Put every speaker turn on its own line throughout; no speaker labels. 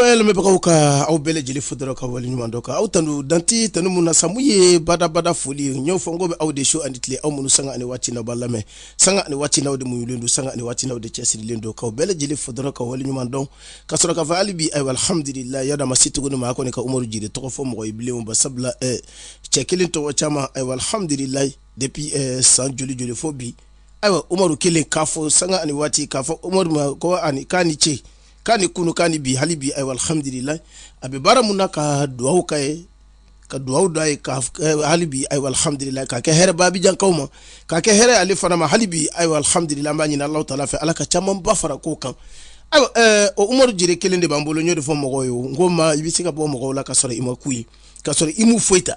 Sɔyali bɛ bɛbagaw ka aw bɛɛ lajɛlen fo dɔrɔn ka wale ɲuman dɔn k'aw tanu dan tɛ tanu minnu na samu ye badabada foli ye n y'o fɔ ko bɛ aw de su ani tile aw minnu sanga ani waati n'aw b'an lamɛn sanga ani waati n'aw de mun don sanga ani waati n'aw de cɛsirilen don k'aw bɛɛ lajɛlen fo dɔrɔn ka wale ɲuman dɔn ka sɔrɔ k'a fɔ hali bi ahamdulayi a da ma se tuguni ma a kɔni ka umaru jire tɔgɔ fɔ mɔgɔ ye bilen ba sabula cɛ kelen tɔgɔ caman ahamdulayi depuis eh, san joli joli fo bi ayiwa umaru kelen k'a fo sanga ani waati k'a fɔ umaru ma ko ani k'a ni ce k'a ni kunun k'a ni bi hali bi ayiwa alhamdulilayi a bɛ baara min na ka duwawu kɛ a ye ka duwawu don a ye ka eh, hali bi ayiwa alhamdulilayi k'a kɛ hɛrɛ abijankaw ma k'a kɛ hɛrɛ ale fana ma hali bi ayiwa alhamdulilayi an b'a ɲini alahu taala fɛ ala ka caman ba fara o kan ayiwa eh, o umaru jire kelen de b'an bolo n y'o de fɔ mɔgɔw ye n ko ma i bɛ se ka bɔ mɔgɔw la ka sɔrɔ i ma ku ye ka sɔrɔ i m'u foyi ta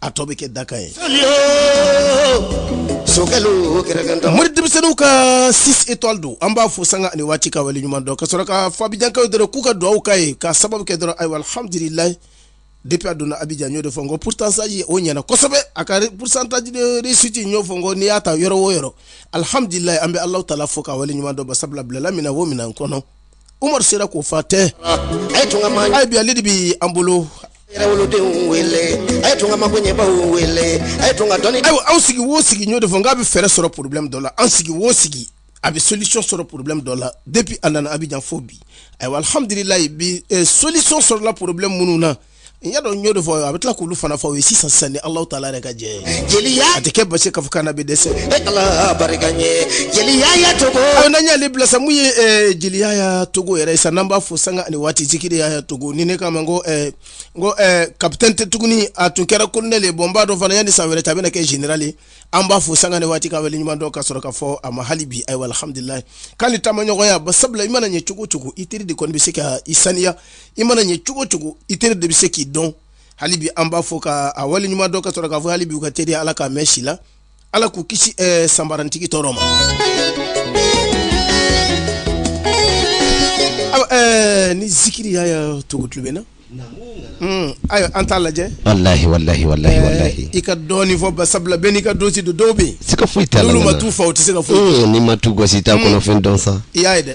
a tɔ bɛ kɛ daka ye mori denmisɛnninw ka six étoiles don an b'a fo sanga ani waati ka wale ɲuman dɔn ka sɔrɔ k'a fɔ abijankaw dɔrɔn k'u ka dugawu kɛ a ye ka sababu kɛ dɔrɔn ayiwa alhamdulilayi depi a donna abijan n y'o de fɔ n ko pourcentage o ɲɛna kosɛbɛ a ka pourcentage de réussite n y'o fɔ n ko n'i y'a ta yɔrɔ o yɔrɔ alhamdulilayi an bɛ alahu taala fo ka wale ɲuman dɔn ba sabula a bilala min na o minɛn kɔnɔ Umaru sera k'o fa tewu a bi ale de bɛ an bolo wolodenw wele a ye tun ka mako ɲɛbaw wele a ye tun ka dɔnni ayiwa an sigi wo sigi n y'o de fɔ k'a bɛ fɛɛrɛ sɔrɔ porobilɛmu dɔ la an sigi wo sigi a bɛ solisɔn sɔrɔ porobilɛmu dɔ la depi a nana abijan fɔ bi ayiwa alhamdulilayi bi solisɔn sɔrɔla porobilɛmu minnu na n y'a dɔn n y'o de fɔ a bɛ tila k'olu fana fɔ o ye sisan sisan ni Alahu taala yɛrɛ ka jɛ ye jeliya a tɛ kɛ baasi k'a fɔ k'an na bɛ dɛsɛ e Ala barika n ye zikiri yaya togo aw n'an y'ale bila sa mun ye eh, zikiri yaya togo yɛrɛ ye sa n'an b'a fo sanga ani waati zikiri yaya togo ni ne ko a ma n ko eh, n ko eh, kapitɛni tɛ tuguni a tun kɛra kolonɛli ye bon n b'a dɔn fana yanni san wɛrɛ ta a bɛna kɛ zenerali ye an b'a fo sanga ni waati ka wale ɲuman dɔn ka sɔrɔ k'a fɔ a ma hali bi ayiwa alhamdulilayi k'a ni taamaɲɔgɔnya ba sabula i mana ɲɛ cogo o cogo i teri de kɔni bɛ se ka i saniya i mana ɲɛ cogo o cogo i teri de bɛ se k'i dɔn hali bi an b'a fo k'a wale ɲuman dɔn ka sɔrɔ k'a fɔ hali bi u ka teriya ala k'a mɛɛn si la ala k'u kisi eh, sanbarantigi tɔɔrɔ ma eh, ni zikiri yaya togo tulo b'an na hmm, ayiwa an t'a lajɛ walahi walahi walahi eh, walahi i ka dɔɔni fɔ ba sabula bɛɛ n'i ka dosi don dɔw bɛ yen se ka foyi t'a la n'olu ma t'u fa u tɛ se ka foyi hmm, n'i ma tu gosi i t'a kɔnɔfɛn hmm. dɔn sa i y'a ye dɛ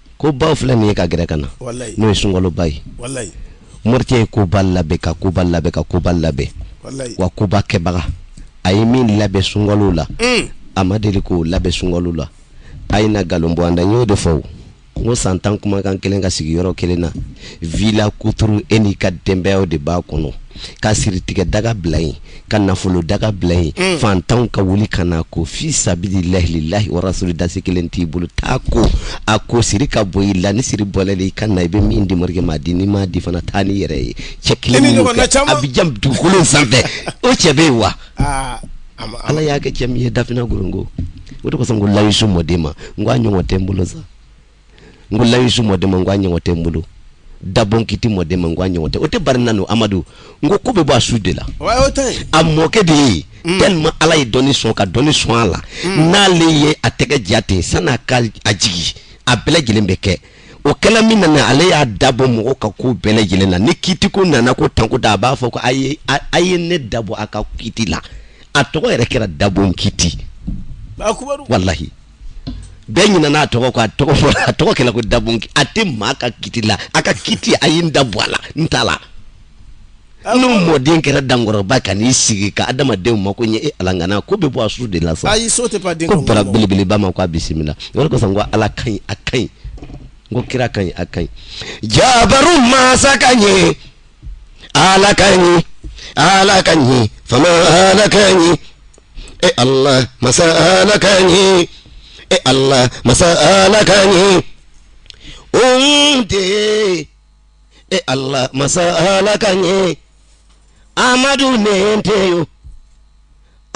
koba filɛ nin ye ka gɛrɛ ka na n'o ye sunkaloba ye morikɛ ye koba labɛn ka koba labɛn ka koba labɛn wa koba kɛbaga a ye min labɛn sunkalo la mm. a ma deli k'o labɛn sunkalo la a ye na nkalon bɔ an da n y'o de fɔ n ko san tan kumakan kelen ka sigi yɔrɔ kelen na vila kuturu e n'i ka denbayaw de b'a kɔnɔ ka siritigɛ daga bila yen ka nafolo daga bila yen mm. fantanw ka wuli ka na ko fi sabili lahi lilahi warasuli dasi kelen t'i bolo taa ko a ko siri ka bɔ i la ni siri bɔl'e la i ka na i bɛ min di morikɛ ma di n'i m'a di fana taa n'i yɛrɛ ye cɛ kelen minnu kɛ a bɛ yan dugukolo sanfɛ o cɛ bɛ yen wa ah, ala y'a kɛ cɛ min ye dafina gorongo o de kosɔn ko layisu mɔden ma n ko a ɲɔgɔn tɛ n bolo sa n ko layisu mɔden ma n ko a ɲɔgɔn tɛ n bolo dabɔn kiti mɔden ma n ko a ɲɔgɔn tɛ o tɛ barina no amadu n ko ko bɛ bɔ a su de la a mɔkɛ de ye mm. tellement ala ye dɔnni sɔn ka dɔnni sɔn a la mm. n'ale ye a tɛgɛ ja ten san'a ka a jigin a bɛɛ lajɛlen bɛ kɛ o kɛla min nana ale y'a dabɔ mɔgɔ ka ko bɛɛ lajɛlen na ni kiti ko nana ko tanko da a b'a fɔ ko a ye a ye ne dabɔ a ka kiti la a tɔgɔ yɛrɛ kɛra dabɔn kiti walahi bɛɛ ɲinana a tɔgɔ kɔ a tɔgɔ fɔ a tɔgɔ kɛla ko dabɔn kiti a tɛ maa ka kiti la a ka kiti a ye n da bɔ a la n t'a la n'o mɔden kɛra dankɔrɔba ka n'i sigi ka adamadenw mako ɲɛ e ala ŋana ko bɛ bɔ a su de la sa ayi so tɛ pan den ko bara belebeleba ma ko a bisimila o de kosɔn ko ala ka ɲi a ka ɲi n ko kira ka ɲi a ka ɲi jabaru mansa ka ɲi ala ka ɲi ala ka ɲi fama ala ka ɲi e allah masa ala kaɲi e allah masa ala kaɲi ohun de e allah masa ala kaɲi amadu nɛgɛn tɛ yo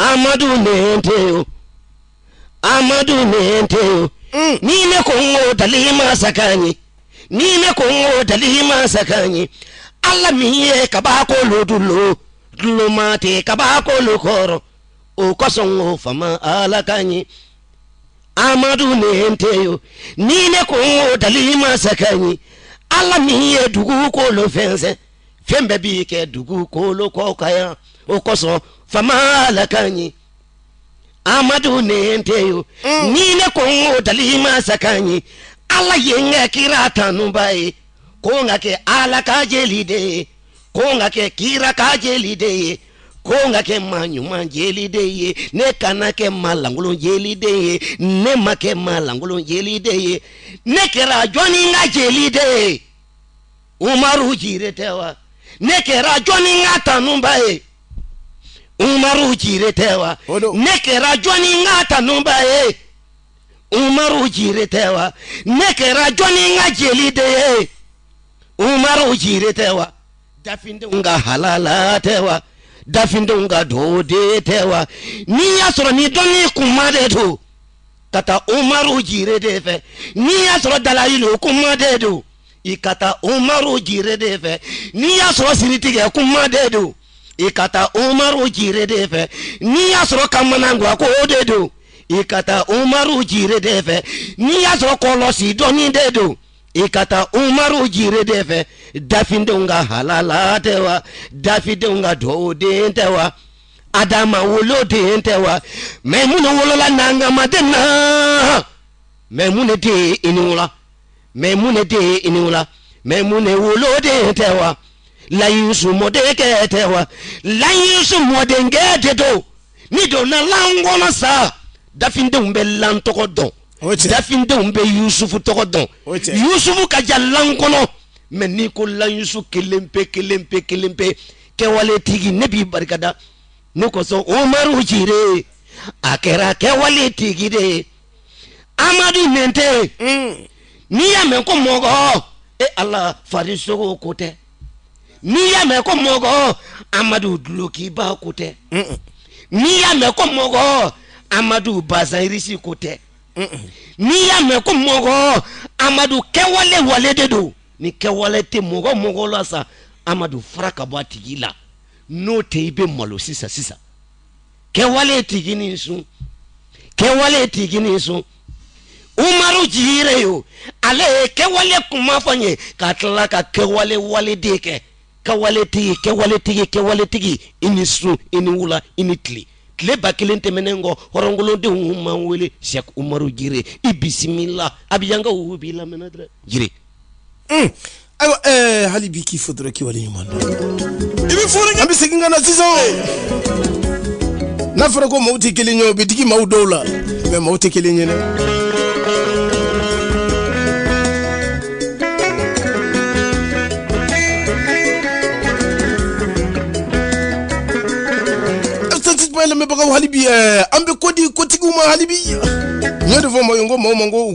amadu nɛgɛn tɛ yo amadu nɛgɛn tɛ yo ni ne ko n ko dali masa kaɲi ni ne ko n ko dali masa kaɲi ala min ye kabakolo dulon duloma tɛ kabakolo kɔrɔ o kosɔn n ko fama ala ka ɲi amadu nɛgɛn tɛ yo ni ne ko n ko dali masa ka ɲi ala min ye dugukolo fɛnsɛn fɛn bɛɛ b'i kɛ dugukolo kɔ kan yan o kosɔn fama ala ka ɲi amadu nɛgɛn tɛ yo mm. ni ne ko n ko dali masa ka ɲi ala ye n kɛ kira tanubaa ye ko n ka kɛ ala ka jeli de ye ko n ka kɛ kira ka jeli de ye ko n ka kɛ maa ɲuman jeli de ye ne kana kɛ maa lankolon jeli de ye ne ma kɛ maa lankolon jeli de ye ne kɛra jɔnin ka jeli de ye umaru jire tɛ wa ne kɛra jɔnin ka tanubaa ye umaru jire tɛ wa O don. ne kɛra jɔnin ka tanubaa ye umaru jire tɛ wa ne kɛra jɔnin ka jeli de ye umaru jire tɛ wa dafindenw ka halala tɛ wa dafindenw ka duwawu den tɛ wa n'i y'a sɔrɔ ni dɔnni kuma de don ka taa umaru jire de fɛ n'i y'a sɔrɔ dalayilu kuma de don i ka taa umaru jire de fɛ n'i y'a sɔrɔ siritigɛ kuma de don i ka taa umaru jire de fɛ n'i y'a sɔrɔ kamanagwan ko o de don i ka taa umaru jire de fɛ n'i y'a sɔrɔ kɔlɔsi dɔnni de don i ka taa umaru jire de fɛ dafindenw ka halala tɛ wa dafindenw ka duwawu den tɛ wa adama wolo den tɛ wa mɛmuna wolola nankamaden na mɛmuna den i ni wula mɛmuna den i ni wula mɛmuna wolo den tɛ wa lan yusu mɔdenkɛ tɛ wa lan yusu mɔdenkɛ de don n'i donna lan kɔnɔ sa dafindenw bɛ lan tɔgɔ dɔn O cɛ. dafindenw bɛ yusufu tɔgɔ dɔn O cɛ. yusufu ka ca lan kɔnɔ mɛ n'i ko lan yusu kelen pe kelen pe kelen pe kɛwale tigi ne b'i barikada nin kosɔn umaru jire a kɛra kɛwale tigi de ye amadu nɛnte n'i y'a mɛn ko mɔgɔ e ala farisogo ko tɛ n'i y'a mɛn ko mɔgɔ amadu duloki ba ko tɛ n'i y'a mɛn ko mɔgɔ amadu bazɛn risi ko tɛ n'i y'a mɛn ko mɔgɔ amadu kɛwale wale de don ni kɛwale tɛ mɔgɔ mɔgɔ la sa amadu fara ka bɔ a tigi la n'o tɛ i bɛ malo sisan sisan kɛwale tigi i ni su kɛwale tigi i ni su umaru jire yo ale ye kɛwale kuma fɔ n ye ka tila ka kɛwale wale de kɛ kɛwaletigi kɛwaletigi kɛwaletigi i ni su i ni wula i ni tile tile ba kelen tɛmɛnen kɔ hɔrɔnkolodenw man wele sɛk umaru jire i bisimila abijankaw b'i lamɛnna dɛrɛ jire ayiwa ɛɛ hali bi k'i fo dɔrɔn k'i wale ɲuman dɔn i bɛ fɔli kɛ an bɛ segin ka na sisan o n'a fɔra ko maaw tɛ kelen ye o bɛ digi maaw dɔw la mɛ maaw tɛ kelen ye dɛ lamɛnbagaw hali bi ɛɛ an bɛ ko di kotigiw ma hali bi n y'o de fɔ maaw ye n ko maaw ma ko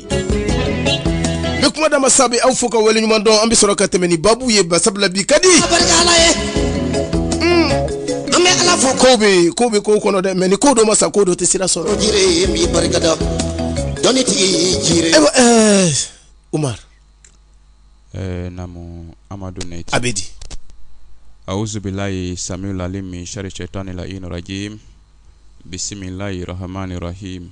N bɛ kuma dama sa bɛ aw fo ka wale ɲuman dɔn an bɛ sɔrɔ ka tɛmɛ ni babu ye basa la bi ka di. Ala barika Ala ye. Un. An bɛ Ala fo. Kow bɛ yen, kow bɛ kow kɔnɔ dɛ mais ni ko dɔ ma sa ko dɔ tɛ sira sɔrɔ. O jire ye min barika da. Dɔnni tigi ye jire. Ayiwa ɛɛ eh, Umar. Ɛɛ eh, namu Amadu Nɛti. A bɛ di. Awuzubilayi samiul alim min sari sɛtani layini rajim. Bisimilayi rahamani rahim.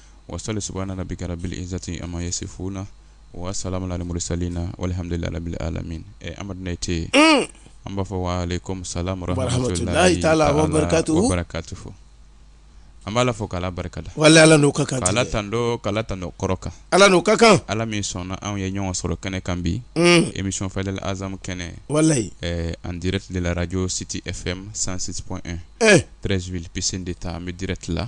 wa sali saba nana bi kɛra bi izti a ma ye se fo na o waa sala ni mori sali na wali hamdulilalabi ala amadud tɛ yen an b'a fɔ wa samuhatu fɔ an b'a fɔ kala barika da wala ala ka kan ala tan kala tan kɔrɔ kan ala n'u ka kan ala min sɔnna anw ye ɲɔgɔn sɔrɔ kɛnɛ kan bi emisiyfa azmu kɛnɛ wala an dɛrɛtilarajɔ siti e fɛ sansip prezp psɛn de taa an bɛ dɛrɛti la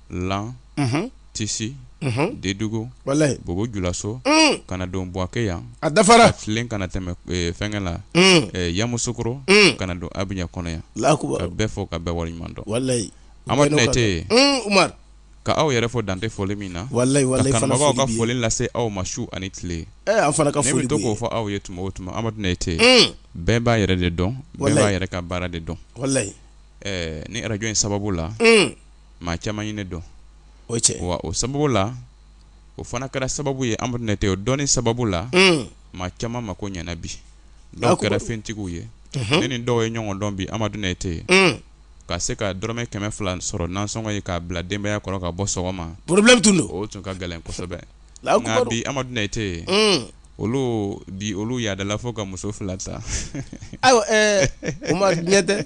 lan tisi dedugu bobo julaso ka na don buwake yan a dafara filen ka na tɛmɛ fɛnkɛ la yamusukoro ka na don abijan kɔnɔ yan ka bɛɛ fo ka bɛɛ waleɲuman dɔn amadu nayite ka aw yɛrɛ fo dan tɛ foli min na kanubagaw ka foli lase aw ma su ani tile fana ka foli to k'o fɔ aw ye tuma o tuma amadu nayite bɛɛ b'a yɛrɛ de dɔn bɛɛ b'a yɛrɛ ka baara de dɔn nin arajo in sababu la maa caman ye ne dɔn o cɛ wa o sababu la o fana kɛra sababu ye amadu nayite o dɔnni sababu la maa caman mako ɲɛna bi dɔw kɛra fɛntigiw ye ne ni dɔw ye ɲɔgɔn dɔn bi amadu nayite ye ka se ka dɔrɔmɛ kɛmɛ fila sɔrɔ nasɔngɔ ye k'a bila denbayaya kɔrɔ ka bɔ sɔgɔma porobulɛmu tun don o tun ka gɛlɛn kosɛbɛ bi amadu nayite ye olu bi olu yaadala fo ka muso fila ta ayiwa amadu nayite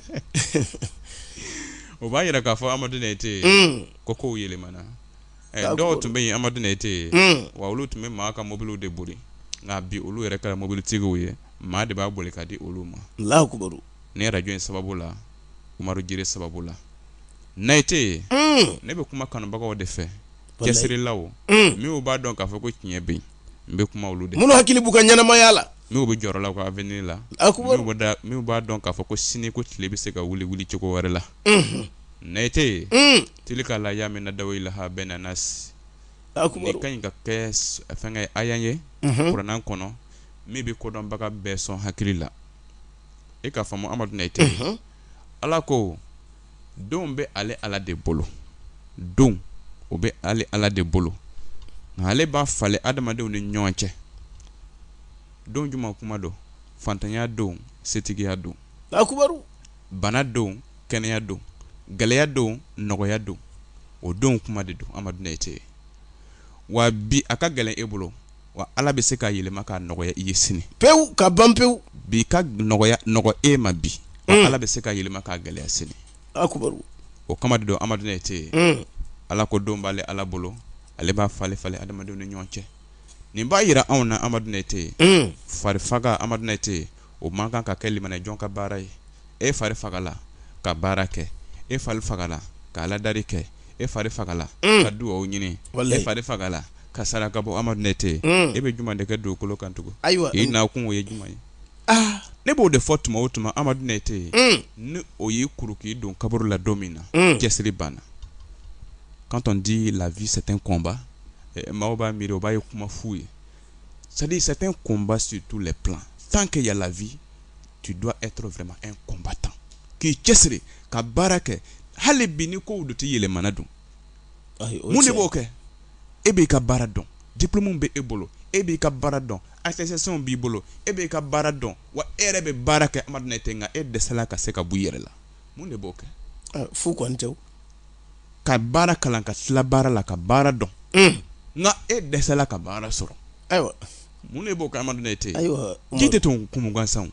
o b'a jira k'a fɔ amadu nayite ye ko kow yɛlɛmana dɔw tun bɛ yen amadu nayite ye wa olu tun bɛ maa ka mobiliw de boli nka bi olu yɛrɛ kɛra mobilitigiw ye maa de b'a boli ka di olu ma alahu akibaru nin arajo in sababu la umaru jire sababu la nayite ye ne bɛ kuma kanubagaw de fɛ cɛsirilaw min b'a dɔn k'a fɔ ko tiɲɛ bɛ yen n bɛ kuma olu de minnu hakili b'u ka ɲɛnamaya la n'u bɛ jɔrɔ la u ka avenir la minnu b'a dɔn k'a fɔ ko sini ko tile bɛ se ka wuli wuli cogo wɛrɛ la nayite ye hmm. tilika li ayamu nudawiluha bayina nasi nin ka ɲi ka kɛ fɛnkɛ aya ye mhm. kuranɛ kɔnɔ min bɛ kodɔnbaga bɛɛ sɔn hakili la i k'a faamu amadu nayite mhm. ala ko don bɛ ale ala de bolo don o bɛ ale ala de bolo nka ale b'a falen adamadenw ni ɲɔgɔn cɛ don juma kuma don faantanya don setigiya don bana don kɛnɛya don gɛlɛya don nɔgɔya don o don kuma de don amadu nayite wa bi a ka gɛlɛn e bolo wa ala bɛ se k'a yɛlɛma k'a nɔgɔya i ye sini pewu ka ban pewu bi ka nɔgɔya nɔgɔ e ma bi mm. ala bɛ se k'a yɛlɛma k'a gɛlɛya sini o kama de don amadu nayite mm. ala ko don b'ale ala bolo ale b'a falen falen adamadenw ni ɲɔgɔn cɛ nin b'a jira anw na amadu nayite mm. fari faga amadu nayite o man kan ka kɛ limanɛ jɔn ka baara ye e fari fagala ka baara kɛ e fari fagala ka aladari kɛ e fari fagala mm. ka dugawu ɲini e fari fagala ka saraka bɔ amadu ne tɛ mm. e bɛ jumɛn de kɛ dugukolo kan tugun ayiwa i nakun o ye jumɛn ye ah. ne b'o de fɔ tuma o tuma amadu ne tɛ yen mm. ni o y'i kuru k'i don kaburu la don min na cɛsiri banna quand on dit la vie c'est un combat eh, maaw b'a miiri o b'a ye kuma fu ye C'est-à-dire c'est un combat sur tous les plans tant que y a la vie tu dois être vraiment un combattant k'i cɛsiri ka baara kɛ hali bi ni ko de tɛ yɛlɛmana don mun de b'o kɛ e b'i ka baara dɔn diplôme bɛ e bolo e b'i ka baara dɔn attestation b'i bolo e b'i ka baara dɔn wa e yɛrɛ bɛ baara kɛ amadu ne tɛ nka e dɛsɛla ka se ka bɔ i yɛrɛ la mun de b'o kɛ fu kɔni tɛ ka baara kalan ka tila baara la ka baara dɔn nka e dɛsɛla ka baara sɔrɔ ayiwa mun de b'o kɛ amadu ne tɛ ayiwa ji tɛ tun kun gansan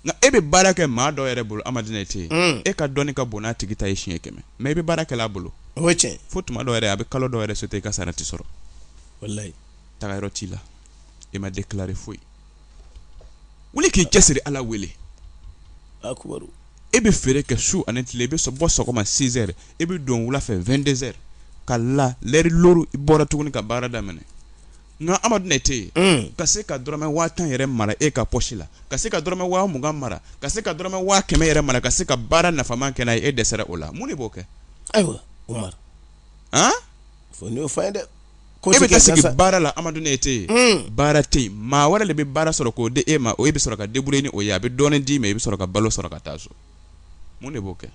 nka e bɛ baara kɛ maa dɔw yɛrɛ bolo amadu ne tɛ yen e ka dɔnni ka bon n'a tigi ta ye siɲɛ kɛmɛ mais i bɛ baara kɛla a bolo o cɛ fo tuma dɔw yɛrɛ a bɛ kalo dɔw yɛrɛ sauter i ka sara tɛ sɔrɔ wala tagayɔrɔ t'i la i ma de kire foyi wuli k'i cɛsiri ala wele e bɛ feere kɛ su ani tile i bɛ bɔ sɔgɔma six heures e bɛ don wula fɛ vingt-deux heures ka la lɛri luuru i bɔra tuguni ka baara daminɛ nka amadu ne tɛ yen ka se ka dɔrɔmɛ waa tan yɛrɛ mara e ka pɔsi la ka se ka dɔrɔmɛ waa mugan mara ka se ka dɔrɔmɛ waa kɛmɛ yɛrɛ mara ka se ka baara nafama kɛ e dɛsɛra o la mun de b'o kɛ ayiwa fa dɛ e bɛ taa sigi baara la amadu ne tɛ yen baara tɛ yen maa wɛrɛ de bɛ baara sɔrɔ k'o di e ma o e bɛ sɔrɔ ka débrouiller ni o ye a bɛ dɔɔni d'i ma i bɛ sɔrɔ ka balo sɔrɔ ka taa so mun de b'o kɛ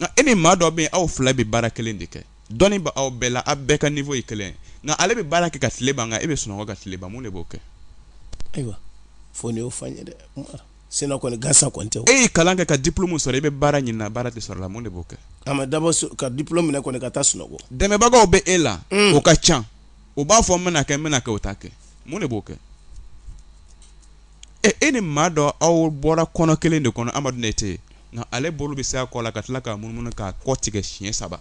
nka e ni maa dɔ bɛ aw fila bɛ baara kelen de kɛ dɔnni b' aw bɛɛ la aw bɛɛ ka niveau ye kelen nka ale bɛ baara kɛ ka tile ban nka e bɛ sunɔgɔ ka tile ban mun de b'o kɛ ayiwa fo y'o fa ye dɛ sen kɔni gansan ko tɛ e ye kalan kɛ ka diplôme sɔrɔ i bɛ baara ɲinina baara tɛ sɔrɔla mun de b'o kɛ a ma dabɔ ka diplôme minɛ kɔni ka taa sunɔgɔ dɛmɛbagaw bɛ e la mm. o ka ca o b'a fɔ n bɛna kɛ n bɛna kɛ o t'a kɛ mun de b'o kɛ e e ni maa dɔ aw bɔra kɔnɔ kelen de kɔnɔ amadu ne tɛ yen nka ale bolo bɛ se a kɔ la ka tila k'a munumunu k'a kɔ tigɛ siɲɛ saba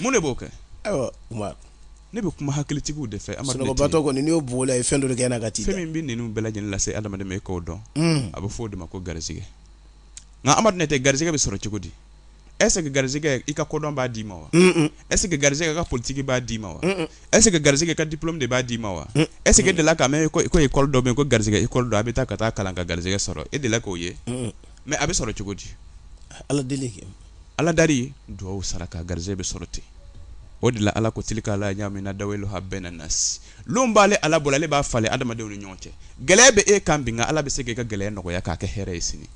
mun de b'o kɛ ayiwa Umaru ne bɛ kuma hakilitigiw de fɛ sunɔgɔbatɔ kɔni n'i y'o bugɔ la i fɛn dɔ de kɛ na ka t'i da fɛn min bɛ ninnu bɛɛ lajɛlen lase adamaden ma i k'o dɔn hmm. a bɛ fɔ o de ma ko garisɛgɛ nka Amadu Nɛtɛ garisɛgɛ bɛ sɔrɔ cogo di est-ce que garisɛgɛ i ka kodɔn b'a d'i ma wa est-ce que garisɛgɛ ka politiki b'a d'i ma wa est-ce que garisɛgɛ ka diplôme de b'a d'i ma wa est-ce que e delila ka mɛn ko école dɔ bɛ yen ko garisɛgɛ école don a bɛ taa ka taa kalan ka garisɛgɛ sɔrɔ e delila k'o ye mais a bɛ sɔrɔ cogo di ala deli Ala dari dugawu saraka garisɛgɛ bɛ sɔrɔ ten o de la Ala ko tilika layamu nudawiluha bayina nasi lon b'ale Ala bolo ale b'a falen adamadenw ni ɲɔgɔn cɛ gɛlɛya bɛ e kan bi nka Ala bɛ se k'e ka gɛlɛya nɔgɔya k'a kɛ hɛrɛ ye sini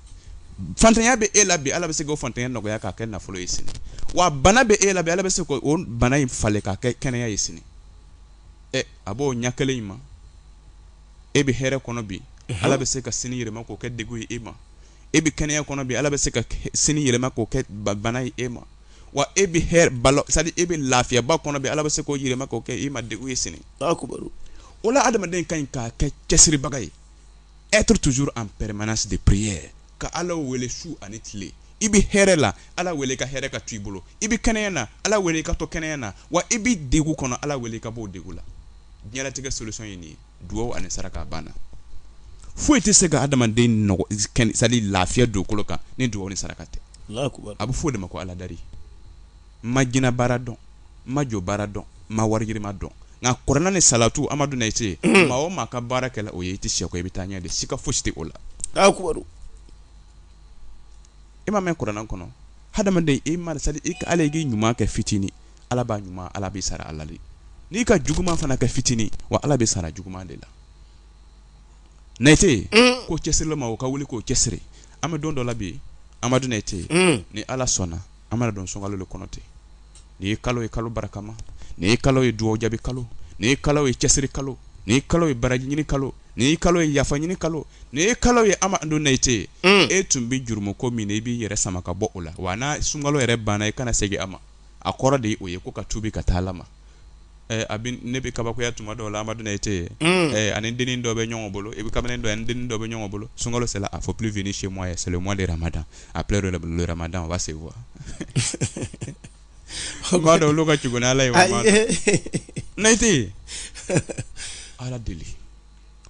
fantanya bɛ e la bi Ala bɛ se k'o fantanya nɔgɔya k'a kɛ nafolo ye sini wa bana bɛ e la bi Ala bɛ se k'o bana in falen k'a kɛ kɛnɛya ye sini ɛ a b'o ɲɛ kelen in ma e bɛ hɛrɛ kɔnɔ bi Ala bɛ se ka sini yɛlɛma k'o kɛ degun ye e ma e bɛ kɛnɛya kɔnɔ bi ala bɛ se ka sini yɛlɛma k'o kɛ bana ye e ma wa e bɛ hɛrɛba la c'est-à-dire e bɛ lafiyaba kɔnɔ bi ala bɛ se k'o yɛlɛma k'o kɛ e ma degun ye sini o la adamaden ka ɲi ka kɛ cɛsiribaga ye être toujours en permanence de prière ka ala wele su ani tile i bɛ hɛrɛ la ala wele i ka hɛrɛ ka to i bolo i bɛ kɛnɛya na ala wele i ka to kɛnɛya na wa i bɛ degun kɔnɔ ala wele i ka bɔ degun la diɲɛlatigɛ solution ye nin ye dugawu ani saraka banna foyi tɛ se ka adamaden c'est-à-dire lafiya dugukolo kan ni dugawu ni saraka tɛ a bɛ fɔ o de ma ko aladari ma jinɛ baara dɔn ma jɔ baara dɔn ma warijima dɔn nka kɔrɔɛ ni salatu amadu i se maa o maa ka baara kɛ o ye i tɛ se i bɛ taa ɲɛ de siga foyi tɛ o la e ma mɛn kuranɛ kɔnɔ ha i i ka ala k'i ɲuman kɛ fitinin ala b'a ɲuman ala b'i sara a la dɛ n'i ka juguman fana kɛ fitinin wa ala b'i sara juguman de la nete mm. ko cɛsiri maaw ka wuli k'o cɛsiri an bɛ don dɔ la bi amadu nete mm. ni ala sɔnna an mana don sunkalo le kɔnɔ ten ni ye kalo ye kalo barakama ni ye kalo ye dugawu jaabi kalo ni ye kalo ye cɛsiri kalo ni ye kalo ye baraji ɲini kalo ni ye kalo ye yafa ɲini kalo ni ye kalo ye amadu nete ye mm. e tun bɛ jurumu ko min na i b'i yɛrɛ sama ka bɔ o la wa n'a sunkalo yɛrɛ banna i kana segin a ma a kɔrɔ de o ye ko ka tubi ka taa ala ma ne bɛ kabakoya tuma dɔw la amadu nete a ni dennin dɔ bɛ ɲɔgɔn bolo i bɛ kamalen dɔ a ni dennin dɔ bɛ ɲɔgɔn bolo sunkalo sera il faut plus venir chez moi ye c'est le mois de ramadan après le ramadan on va se voir b'a dɔn olu ka jala ye ne tɛ yen ala deli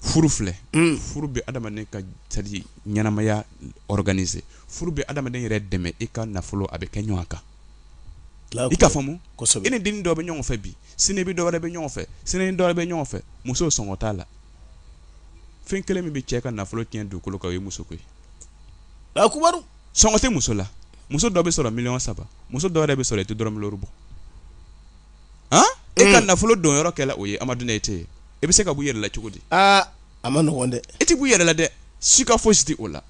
furu filɛ furu bɛ adamaden ka c'est-à-dire ɲɛnamaya organiser furu bɛ adamaden yɛrɛ dɛmɛ i ka nafolo a bɛ kɛ ɲɔgɔn kan i k'a faamu i ni den dɔ bɛ ɲɔgɔn fɛ bi sini bɛ dɔwɛrɛ bɛ ɲɔgɔn fɛ sini dɔwɛrɛ bɛ ɲɔgɔn fɛ muso sɔngɔ t'a la fɛn kelen min bɛ cɛ ka nafolo tiɲɛ dugukolo kan ye musoko ye sɔngɔ tɛ muso la muso dɔ bɛ sɔrɔ mi saba muso dɔw bɛ sɔrɔ i tɛ dɔrɔmɛ bɔ e ka nafolo don yɔrɔ kelen o ye amadu nete ye i bɛ se ka bɔ yɛrɛla cogo di aa a man nɔgɔn dɛ i tɛ bɔ yɛrɛla dɛ siga fosi t'o la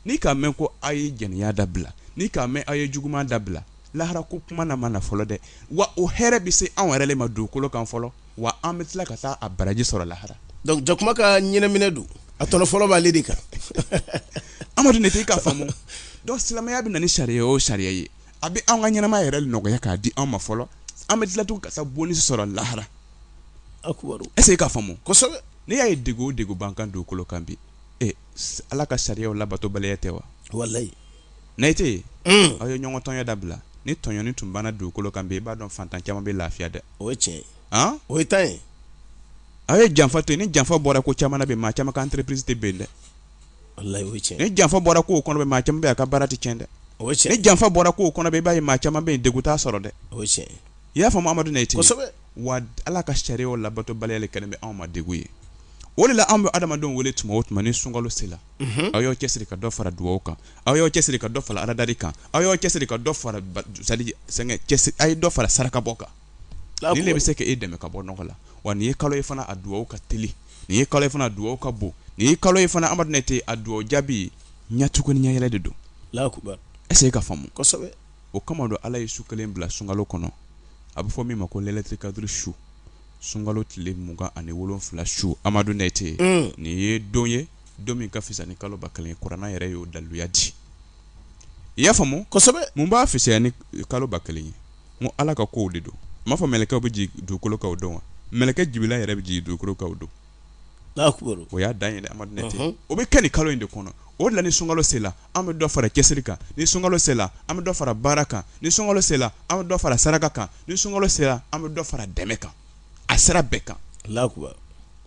n'i k'a mɛn ko aw ye jɛnɛya dabila n'i k'a mɛn aw ye juguuma dabila lahara ko kuma na ma na fɔlɔ dɛ wa o hɛrɛ bɛ se anw yɛrɛ ma dugukolo kan fɔlɔ wa an bɛ tila ka taa a baraji sɔrɔ lahara donc jakuma ka ɲinɛminɛ don a tɔnɔ fɔlɔ b'ale de kan amadu nayite i k'a faamu donc silamɛya bɛ na ni sariya o sariya ye a bɛ an ka ɲɛnamaya yɛrɛ nɔgɔya k'a di an ma fɔlɔ an bɛ tila tugun ka taa boni sɔrɔ lahara est-ce e k'a faamu n'i y'a ye degun o degun b'an kan dugukolo kan bi ala ka sariyaw labatobaliya tɛ wa nayite aw ye ɲɔgɔn tɔɲɔ dabila ni tɔɲɔni tun banna dugukolo kan i b'a dɔn faantan caman bɛ lafiya dɛ o cɛ o ye ta ye aw ye janfa to ni janfa bɔra ko caman na maa caman ka entreprise tɛ bin dɛ ni janfa bɔra ko kɔnɔ maa caman ka baara tɛ cɛn dɛ o ni janfa bɔra ko kɔnɔ i b'a ye maa caman bɛ dunta sɔrɔ dɛ o i y'a fɔ amadu nayite wa ala ka sariyaw labatobaliya kɛlen bɛ anw ma degun ye o de la an bɛ adamadenw wele tuma o tuma ni sunkalo sera aw y'aw cɛ siri ka dɔ fara dugawu kan aw y'aw cɛ siri ka dɔ fara alada kan aw y'aw cɛ siri ka dɔ fara a ye dɔ fara saraka bɔ kan bɛ se ka e dɛmɛ ka bɔ nɔgɔ la wa nin ye kalo ye fana a dugawu ka teli nin ye kalo ye fana dugawu ka bon nin ye kalo ye fana amadu nayite a dugawu jaabi ɲɛcogo ni ɲɛ yɛrɛ de don est-ce e k'a faamu o kama don ala ye su kelen bila sunkalo kɔnɔ a bɛ fɔ min ma ko layilatul kadri su sunkalo tile mugan ani wolofila su amadu nayite nin ye don ye don min ka fisa ni kalo ba kelen ye kuranɛ yɛrɛ y'o daluya di i y'a faamuya mun b'a fisa ni kalo ba kelen ye n ko ala ka kow de don n m'a fɔ mɛlɛkɛw bɛ jigin dugukolo kan o don wa mɛlɛkɛ jibirila yɛrɛ bɛ jigin dugukolo kan o don o y'a dan ye dɛ amadu nayite o bɛ kɛ nin kalo in de kɔnɔ o la ni sunkalo sela an bɛ dɔ fara cɛsiri kan ni sunkalo sela an bɛ dɔ fara baara kan ni sunkalo sela an bɛ dɔ fara saraka kan ni sunkalo sela an bɛ dɔ fara dɛmɛ kan a sera bɛɛ kan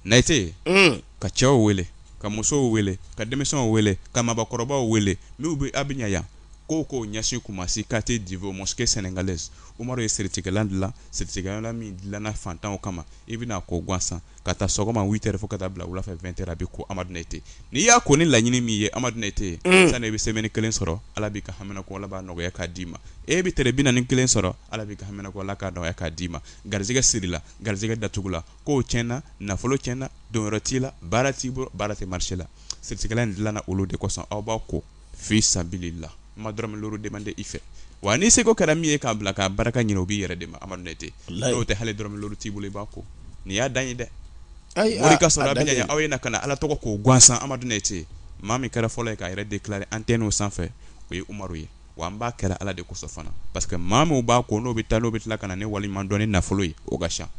nayite mm. ka cɛw wele ka musow wele ka denmisɛnw wele ka mɔgɔkɔrɔbaw wele n'u bɛ a bɛ ɲɛ yan Ko k'o ɲɛsin Kumasi quartier Divo mosquee senegalaise Umaru ye siritigɛlan dilan, siritigɛlan min dilanna fantanw kama, i bɛna a ko gansan, ka ta sɔgɔma 8 heures fo ka taa bila wula fɛ 20 heures a bɛ ko Amadu Nayite. N'i y'a ko ni laɲini min ye Amadu Nayite ye, sani i bɛ semaine kelen sɔrɔ, Ala b'i ka haminako Ala b'a nɔgɔya k'a d'i ma. E bɛ tere 41 kelen sɔrɔ, Ala b'i ka haminako Ala k'a nɔgɔya k'a d'i ma. Garisɛgɛ sirila, garisɛgɛ datugula, kow tiɲɛna, nafolo tiɲɛna, don yɔrɔ t'i la, baara t'i bolo, baara tɛ marché la. Siritigɛlan in dilanna olu de kosɔn, aw b'a ko. fi sabilila n ma dɔrɔnmɛ demande i fɛ wa n'i seko kɛra min ye k'a bila k'a barika ɲinin o b'i yɛrɛ de ma amadu ne tɛ n'o tɛ hali dɔrɔnmɛ t'i bolo i b'a ko nin y'a dan ye dɛ ayi ka sɔrɔ a aw ye na ka na ala tɔgɔ ko gansan amadu ne tɛ maa min kɛra fɔlɔ ye k'a yɛrɛ déclarer antenne sanfɛ o ye umaru ye wa an b'a kɛ la ala de kosɔn fana parce que maa min b'a ko n'o bɛ taa n'o bɛ tila ka na ne waleɲumandɔn ni nafolo ye o ka ca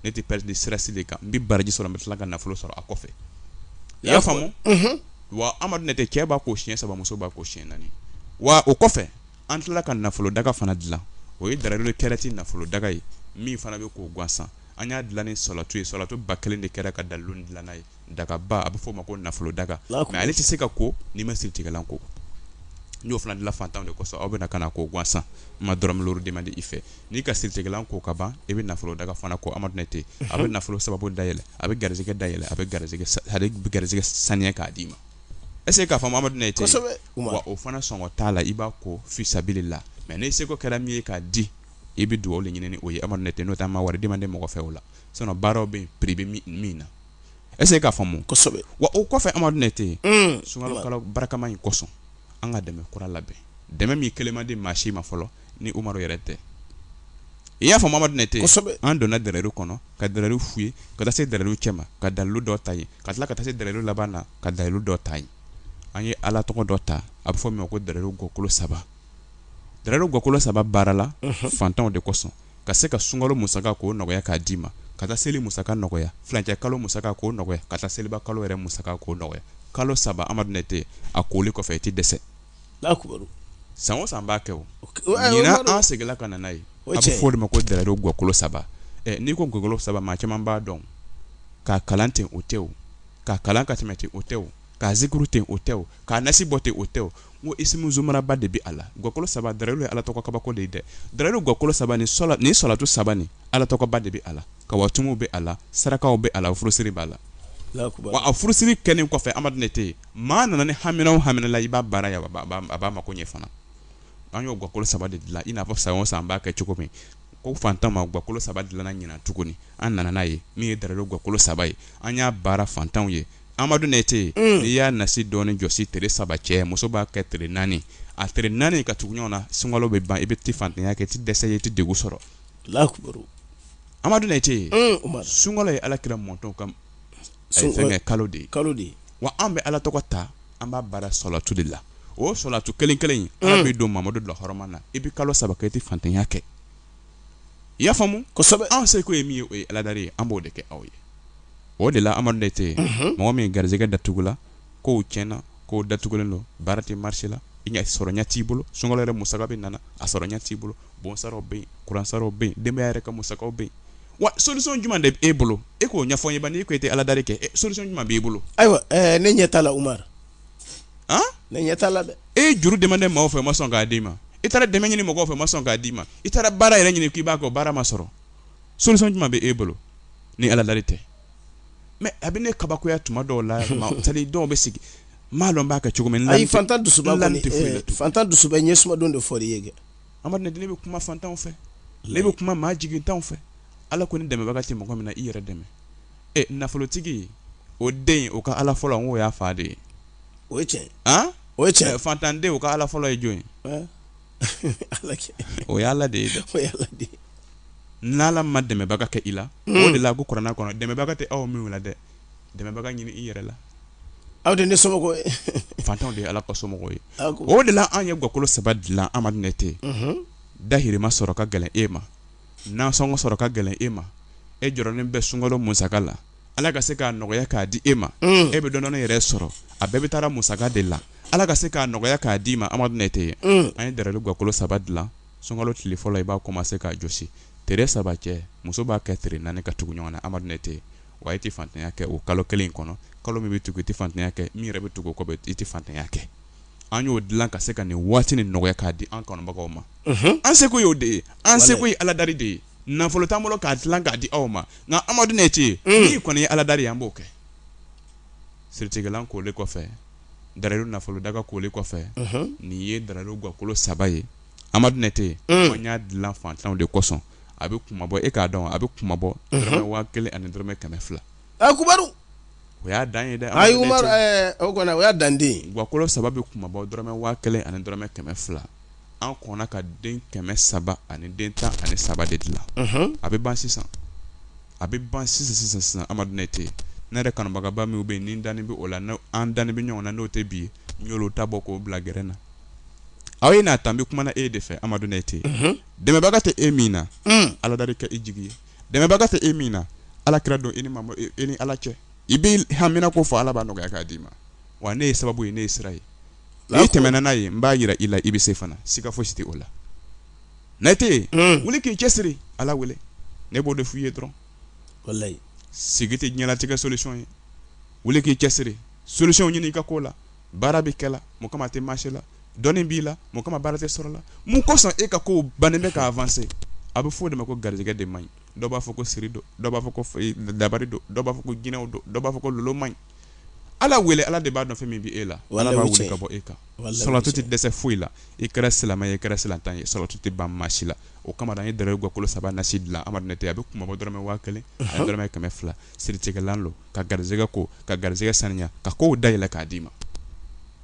ne tɛ pɛdi sira si de kan n bɛ baraji sɔrɔ n bɛ tila ka nafolo sɔrɔ a kɔfɛ i y'a faamumu wa amadu ne tɛ cɛ b'a ko siɲɛ saba muso b'a ko siɲɛ naani wa o kɔfɛ an tilala ka nafolo daga fana dilan o ye dalayilu kɛrati nafolo daga ye min fana bɛ ko gansan an y'a dilan ni salatu ye salatu ba kelen de kɛra ka dalu dilan ye dagaba a bɛ f'o ma ko nafolo daga mɛ ale tɛ se ka ko n'i ma siritigɛlan ko n y'o fana dilan fantan de kosɔn aw bɛ na k'a ko gansan n ma dɔrɔmɛ duuru demande i fɛ N'i ka siritigɛlan ko ka ban i bɛ nafolo daga fana ko Amadou ten a bɛ nafolo sababu dayɛlɛ a bɛ garisɛgɛ dayɛlɛ a bɛ garisɛgɛ saniya k'a d'i ma est ce que k'a faamu Amadou tɛ yen, kosɛbɛ, wa o fana sɔngɔ t'a la i b'a ko fi sabilila mais n'i seko kɛra min ye k'a di i bɛ dugawu de ɲini ni o ye Amadou tɛ n'o tɛ an ma wari demande mɔgɔ fɛ o la sinon baaraw bɛ yen prix bɛ min na est ce que k'a faamu, kosɛbɛ, wa o kɔfɛ Amadou tɛ yen, un, sunkalo kalo barikama in kosɔn an ka dɛmɛ kura labɛn dɛmɛ min kelen ma di maa si ma fɔlɔ ni umaru yɛrɛ tɛ i y'a faamu amadu ne tɛ an donna dalayilu kɔnɔ ka dalayilu filɛ ka taa se dalayilu cɛma ka dalu dɔ ta yen ka tila ka taa se dalayilu laban na ka dalu dɔ ta yen an ye ala tɔgɔ dɔ ta a bɛ fɔ min ko dalayilu gakolo saba dalayilu gakolo saba baarala fantanw de kosɔn ka se ka sunkalo musaka nɔgɔya k'a d'i ma ka taa seli musaka nɔgɔya furancɛ kalo musaka nɔgɔya ka taa seliba kalo yɛrɛ musaka nɔgɔya kalo saba amadu ne tɛ a koli kɔfɛ i tɛ dɛsɛ san o san an b'a kɛ an seginla ka na n'a ye o cɛ fɔ de ma ko dalayilu gakolo saba n'i ko gakolo saba maa caman b'a dɔn k'a kalan ten o tɛ k'a kalan ka tɛmɛ ten o tɛ k'a zikiri ten o tɛ k'a nasi bɔ ten o tɛ ko i zmanaba de bɛ a la gakolo saba dalayilu ye ala tɔgɔ kabako de dɛ dalayilu gakolo saba ni salatu saba ni ala tɔgɔba de bɛ a la kawatimu bɛ a la sarakaw bɛ a furasiri b'a la a furasiri kɛlen kɔfɛ amadu ne tɛ yen Maa nana ni hamina o hamina la i b'a baara a b'a mako ɲɛ fana an y'o gakolo saba de dilan i n'a fɔ san san b'a kɛ cogo min ko fantan ma gakolo saba dilanna ɲinan tuguni an nana n'a ye min ye dalu gakolo saba ye an y'a baara fantanw ye amadu ne tɛ yen i y'a nasi dɔ jɔsi tile saba cɛ muso b'a kɛ tile naani a tile naani ka tugu ɲɔgɔn na sunkalo bɛ ban i bɛ tɛ fantanya kɛ tɛ dɛsɛse ye tɛ de sɔrɔ la amadu ne tɛ yen sunkalo ye alaki mɔntɔn kan kalo de kalo de wa an bɛ ala tɔgɔ ta an b'a baara sɔlatu de la o sɔlatu kelen kelen ala b'i don mamadu la hɔrɔma na i bɛ kalo saba kɛ i tɛ fantanya kɛ i y'a faamumu anw seko ye min ye o ye aladeli ye an b'o de kɛ aw ye o de la amadu tɛ yen mɔgɔ min garijɛgɛ datugula kow tiɲɛna, kow datugulen don, baara tɛ marché la, i ɲɛ sɔrɔ ɲɛ t'i bolo, sunkalo yɛrɛ musaka bɛ nana, a sɔrɔ ɲɛ t'i bolo, bon saraw bɛ yen, kuran saraw bɛ yen, denbaya yɛrɛ ka musakaw bɛ yen, wa solution jumɛn de bɛ e bolo? E k'o ɲɛfɔ n ye bani, e ko e tɛ aladari kɛ, ɛ solution jumɛn b'i bolo? Ayiwa, ɛɛ ne ɲɛ t'a la Umaru, an, ne ɲɛ t'a la dɛ. E ye juru demandé maaw fɛ u ma sɔn k'a d'i ma, i taara dɛmɛ ɲini mɔgɔw fɛ u ma sɔn k'a d'i ma, i taara baara yɛrɛ ɲini k'i b'a kɛ o baara ma sɔrɔ, solution jumɛn bɛ e bolo ni aladari tɛ? mɛ a bɛ ne kabakoya tuma dɔw la misali dɔw bɛ sigi maa dɔw b'a kɛ cogo min ayi fantan dusu fantan dusu bɛ ɲɛ sumadenw de fɔ ye kɛ a ne bɛ kuma fantanw fɛ ne bɛ kuma maa jigintan fɛ ala ko ni dɛmɛbaga tɛ mɔgɔ min na i yɛrɛ dɛmɛ ɛ nafolotigi o den o ka ala fɔlɔ n ko y'a fa de ye o cɛ o cɛ fantanden o ka ala fɔlɔ ye jɔn ye o ye ala de ye dɛ n'ala ma dɛmɛbaga kɛ i la hmm. o de la ko kuranɛ kɔnɔ dɛmɛbaga tɛ aw minw la dɛ dɛmɛbaga ɲini i yɛrɛ la aw de ne somɔgɔw ye fantanw de ye ala ka somɔgɔw ye o de la an ye gakolo saba dilan a man di ne tɛ mhm. dahirimɛ sɔrɔ ka gɛlɛn e ma Nansɔngɔ sɔrɔ ka gɛlɛn e ma e jɔrɔnen bɛ sunkalo musaka la ala ka se k'a nɔgɔya k'a di e ma e bɛ dɔɔnin yɛrɛ sɔrɔ a bɛɛ bɛ taa musaka de la ala ka se k'a nɔgɔya k'a d'i ma a man di ne tɛ yen an ye dalilu gakolo saba dilan sunkalo tile fɔlɔ i b'a commencer k'a jɔsi tile saba cɛ muso b'a kɛ tile naani ka tugu ɲɔgɔn na a man di ne tɛ yen wa e tɛ fantanya kɛ o kalo kelen in kɔnɔ kalo min bɛ tugu i tɛ fantanya kɛ min yɛrɛ bɛ tugu kɔ i tɛ fantanya kɛ an y'o dilan ka se ka nin waati in nɔgɔya k'a di an kanubagaw ma an seko y'o de ye an seko ye aladari de ye nafolo t'an bolo k'a dilan k'a di aw ma nka a man di ne tɛ yen n'i kɔni ye aladari an b'o kɛ siritilan kolen kɔfɛ dalilu nafolo daga kolen kɔfɛ nin ye dalilu gakolo saba ye a man di ne tɛ yen an y'a dilan fantanw de kosɔn a bɛ kunmabɔ e k'a dɔn a bɛ kunmabɔ dɔrɔmɛ waa kelen ani dɔrɔmɛ kɛmɛ fila a umaru o y'a dan ye dɛ ayi umaru ɛɛ o kɔni o y'a dan ye gakolo saba bɛ kunmabɔ dɔrɔmɛ waa kelen ani dɔrɔmɛ kɛmɛ fila an kɔnna ka den kɛmɛ saba ani den tan ani saba de dilan a bɛ ban sisan a bɛ ban sisan sisan sisan a man di ne tɛ ne yɛrɛ kanubagaba minw bɛ yen ne dalen bɛ o la an dalen bɛ ɲɔgɔn na n'o tɛ bi olu ta bɔ k'o bila gɛrɛ na aw ye n'a tan bɛ kuma e de fɛ a man di ne tɛ dɛmɛbaga tɛ e min na ala de kɛ e jigi ye dɛmɛbaga tɛ e min na ala kira don e ni ma e, e ni ala cɛ i bɛ haminanko fɔ ala b'a nɔgɔya k'a d'i ma wa ne ye sababu ye ne ye sira ye n'i tɛmɛna n'a ye n b'a jira i la i bɛ se fana siga fosi tɛ o la ne tɛ yen hmm. wuli k'i cɛsiri ala wele ne b'o de f'i ye dɔrɔn walayi sigi tɛ ɲɛnatigɛ solution ye wuli k'i cɛsiri solution ɲini i ka ko la baara bɛ kɛ la mun kama tɛ maasi la dɔnni b'i la mun kama baara tɛ sɔrɔ la mun kosɔn e ka ko ban bɛ k'a fase a bɛ fɔ o de ma ko garijɛgɛ de ma ɲi dɔw b'a fɔ ko siri dɔw b'a fɔ ko dari dɔw b'a fɔ ko jinɛw dɔw dɔw b'a fɔ ko lolo ma ɲi ala wele ala de b'a dɔn fɛn min bɛ e la ala b'a wele ka bɔ e kan salatu tɛ dɛsɛ foyi la i kɛra silamɛ ye kɛra silamɛ tan ye salatu tɛ ban maa si la o kama an ye dalilu gakolo saba nasi dilan a bɛ kunba dɔrɔmɛ waa kelen dɔrɔmɛ kɛmɛ fila siritigɛlan don ka garisɛgɛ ko ka garisɛgɛ saniya ka kow da yɛlɛ k'a d'i ma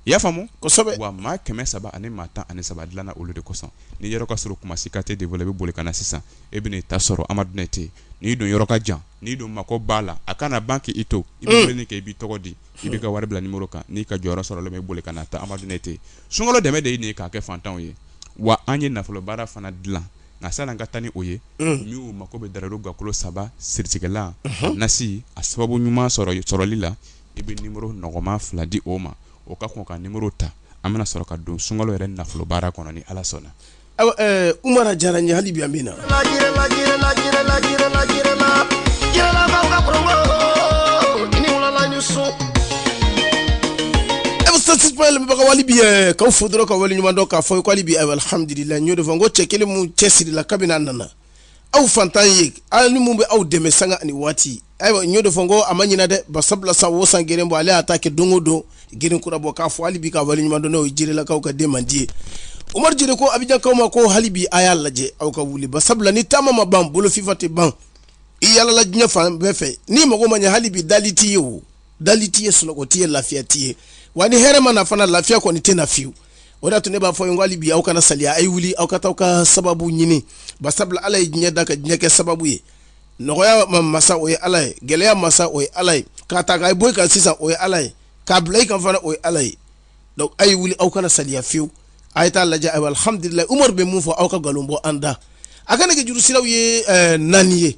i y'a faamu kosɛbɛ wa maa kɛmɛ saba ani maa tan ani saba dilanna olu de kosɔn n'i yɔrɔ ka surun kumasi quartier divo i bɛ boli ka na sisan e bɛna i ta sɔrɔ a man di n ye tɛ yen n'i dun yɔrɔ ka jan n'i dun mako b'a la a kana ban k'i to i bɛ mm. wele kɛ i b'i tɔgɔ di i bɛ ka wari bila nimoro kan n'i ka jɔyɔrɔ sɔrɔ bɛ boli ka na ta a man di n ye tɛ yen sunkalo dɛmɛ de ye nin ye k'a kɛ fantanw ye wa an ye nafolobaara fana dilan nka sani an ka taa ni o ye minnu mako bɛ dalilu gakolo saba siritigɛlan nasi a sababu ɲuman sɔrɔ sɔrɔli la i bɛ nimoro nɔgɔman fila di o ma o ka kɔn ka nimoro ta an bɛna sɔrɔ ka don sunkalo yɛrɛ nafolo baara kɔnɔ ni ala sɔnna u mana diyara ɲa bi min na e bɛ bi ka furu dɔrɔn ka wale ɲuman ka fɔli bi a la n y'o de fɔ n ko cɛ kelen minnu cɛsirila kabini a nana aw fantan ye aw ni minnu bɛ aw dɛmɛ san ani waati ayiwa n y'o de fɔ ko a ma ɲin dɛ ba sabula san o san grin bɔ ale y'a ta kɛ don o don grin kura bɔ k'a fɔ hali bi ka wale ɲuman n'o jilakaw ka den man di ye umaru jeli ko abijankaw ma ko hali bi a y'a lajɛ aw ka wuli ba sabula ni taama ma ban bolo fifa tɛ ban i yalala diɲɛ fan bɛɛ fɛ n'i mako ma ɲɛ hali bi dali t'i ye o dali t'i ye sunɔgɔ t'i ye lafiya t'i ye wa ni hɛrɛ ma na fana lafiya kɔni tɛ na fiyewu o da tun ne b'a fɔ yan ko hali bi aw kana saliya a ye wuli aw ka taa aw ka sababu ɲini ba sabula ala ye diɲɛ da ka diɲɛ kɛ sababu ye nɔgɔya masa o ye ala ye gɛlɛya masa o ye ala ye k'a ta k'a bɔ i kan sisan o ye ala ye k'a bila i kan fana o ye ala ye donc a ye wuli aw kana saliya fiyewu a ye t'a lajɛ alhamdulilahi umaru bɛ mun fɔ aw ka nkalon bɔ an da an ka nɛgɛjuru siraw ye naani ye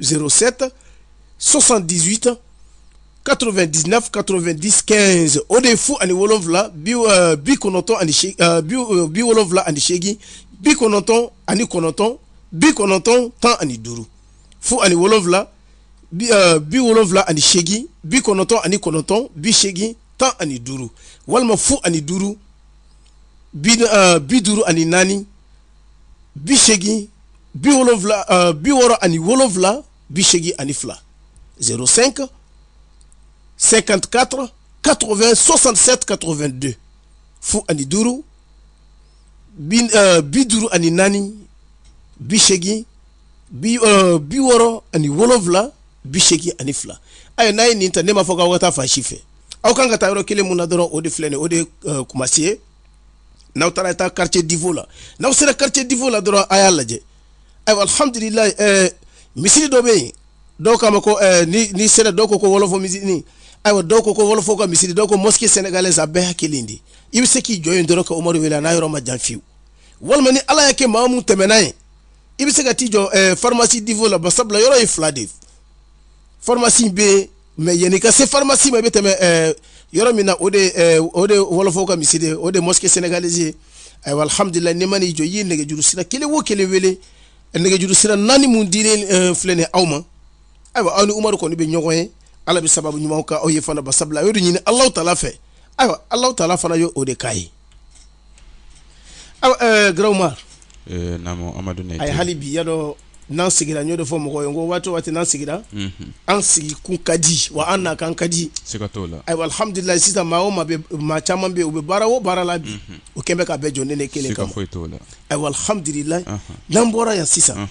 07 78 99 90 15 o de ye fu ani wolonwula bi euh, bi kɔnɔntɔn ani euh, bi euh, bi wolonwula ani seegin bi kɔnɔntɔn ani kɔnɔntɔn bi kɔnɔntɔn tan ani duuru fu ani wolonwula bi bi wolonwula ani seegin bi kɔnɔntɔn ani kɔnɔntɔn bi seegin tan ani duuru walima fu ani duuru bi bi duuru ani naani bi segin bi wolonwula uh, bi wɔɔrɔ ani wolonwula bi segin ani fila zéro cinq cinquante quatre quatre vingt soixante sept quatre vingt deux fu ani duuru bi uh, bi duuru ani naani bi segin bi uh, bi wɔɔrɔ ani wolonwula bi segin ani fila ayi n'a ye nin ta ne m'a fɔ k'aw ka taa fan si fɛ aw kan ka taa yɔrɔ kelen mun na dɔrɔn o de filɛ nin ye o de ye uh, kumasi ye n'aw taara taa quartier divo la n'aw sera quartier divo la dɔrɔn a y'a lajɛ ayiwa alhamdulilayi ɛɛ misiri dɔ bɛ yen dɔw k'a ma ko ɛɛ ni ni sera dɔw ko ko wɔlɔfɔ misiri ayiwa dɔw ko ko wɔlɔfɔ ka misiri dɔw ko mosquée sénégalaise a bɛɛ y'a kelen de i bɛ se k'i jɔ yen dɔrɔn ka umaru wele a n'a yɔrɔ man jan fiyewu walima ni ala y'a kɛ maa mun tɛmɛna yen i bɛ se ka t'i jɔ ɛɛ pharmacie divo la basabula yɔrɔ ye fila de ye pharmacie bɛ yen mais yan'i ka se pharmacie ma i bɛ tɛmɛ eh, yɔrɔ min na o de eh, o de wɔlɔfɔw ka misiri ye o de mosquée sénégalaise ye ayiwa alhamdulilayi n'i man'i jɔ i ye nɛgɛjuru sira kelen o kelen wele eh, nɛgɛjuru sira naani mun dilen filɛ nin aw ma ayiwa aw ni umaru kɔni bɛ ɲɔgɔn ye ala bɛ sababu ɲumanw k'aw ye fana basabula a y'o de ɲini alahu taala fɛ ayiwa alahu taala fana ye o de k'a ye gma amadu a ye hali bi y'a dɔn n'an sigira n b'o de fɔ mɔgɔ ye ko waati waati n'an sigira an sigi kun ka di wa an na kan ka di alhamdulila sisan maa o maa caman bɛ u bɛ baara o baara la bi u kɛlen bɛ ka bɛɛ jɔ ne kelen kan ayiwa alhamdulila n'an bɔra yan sisan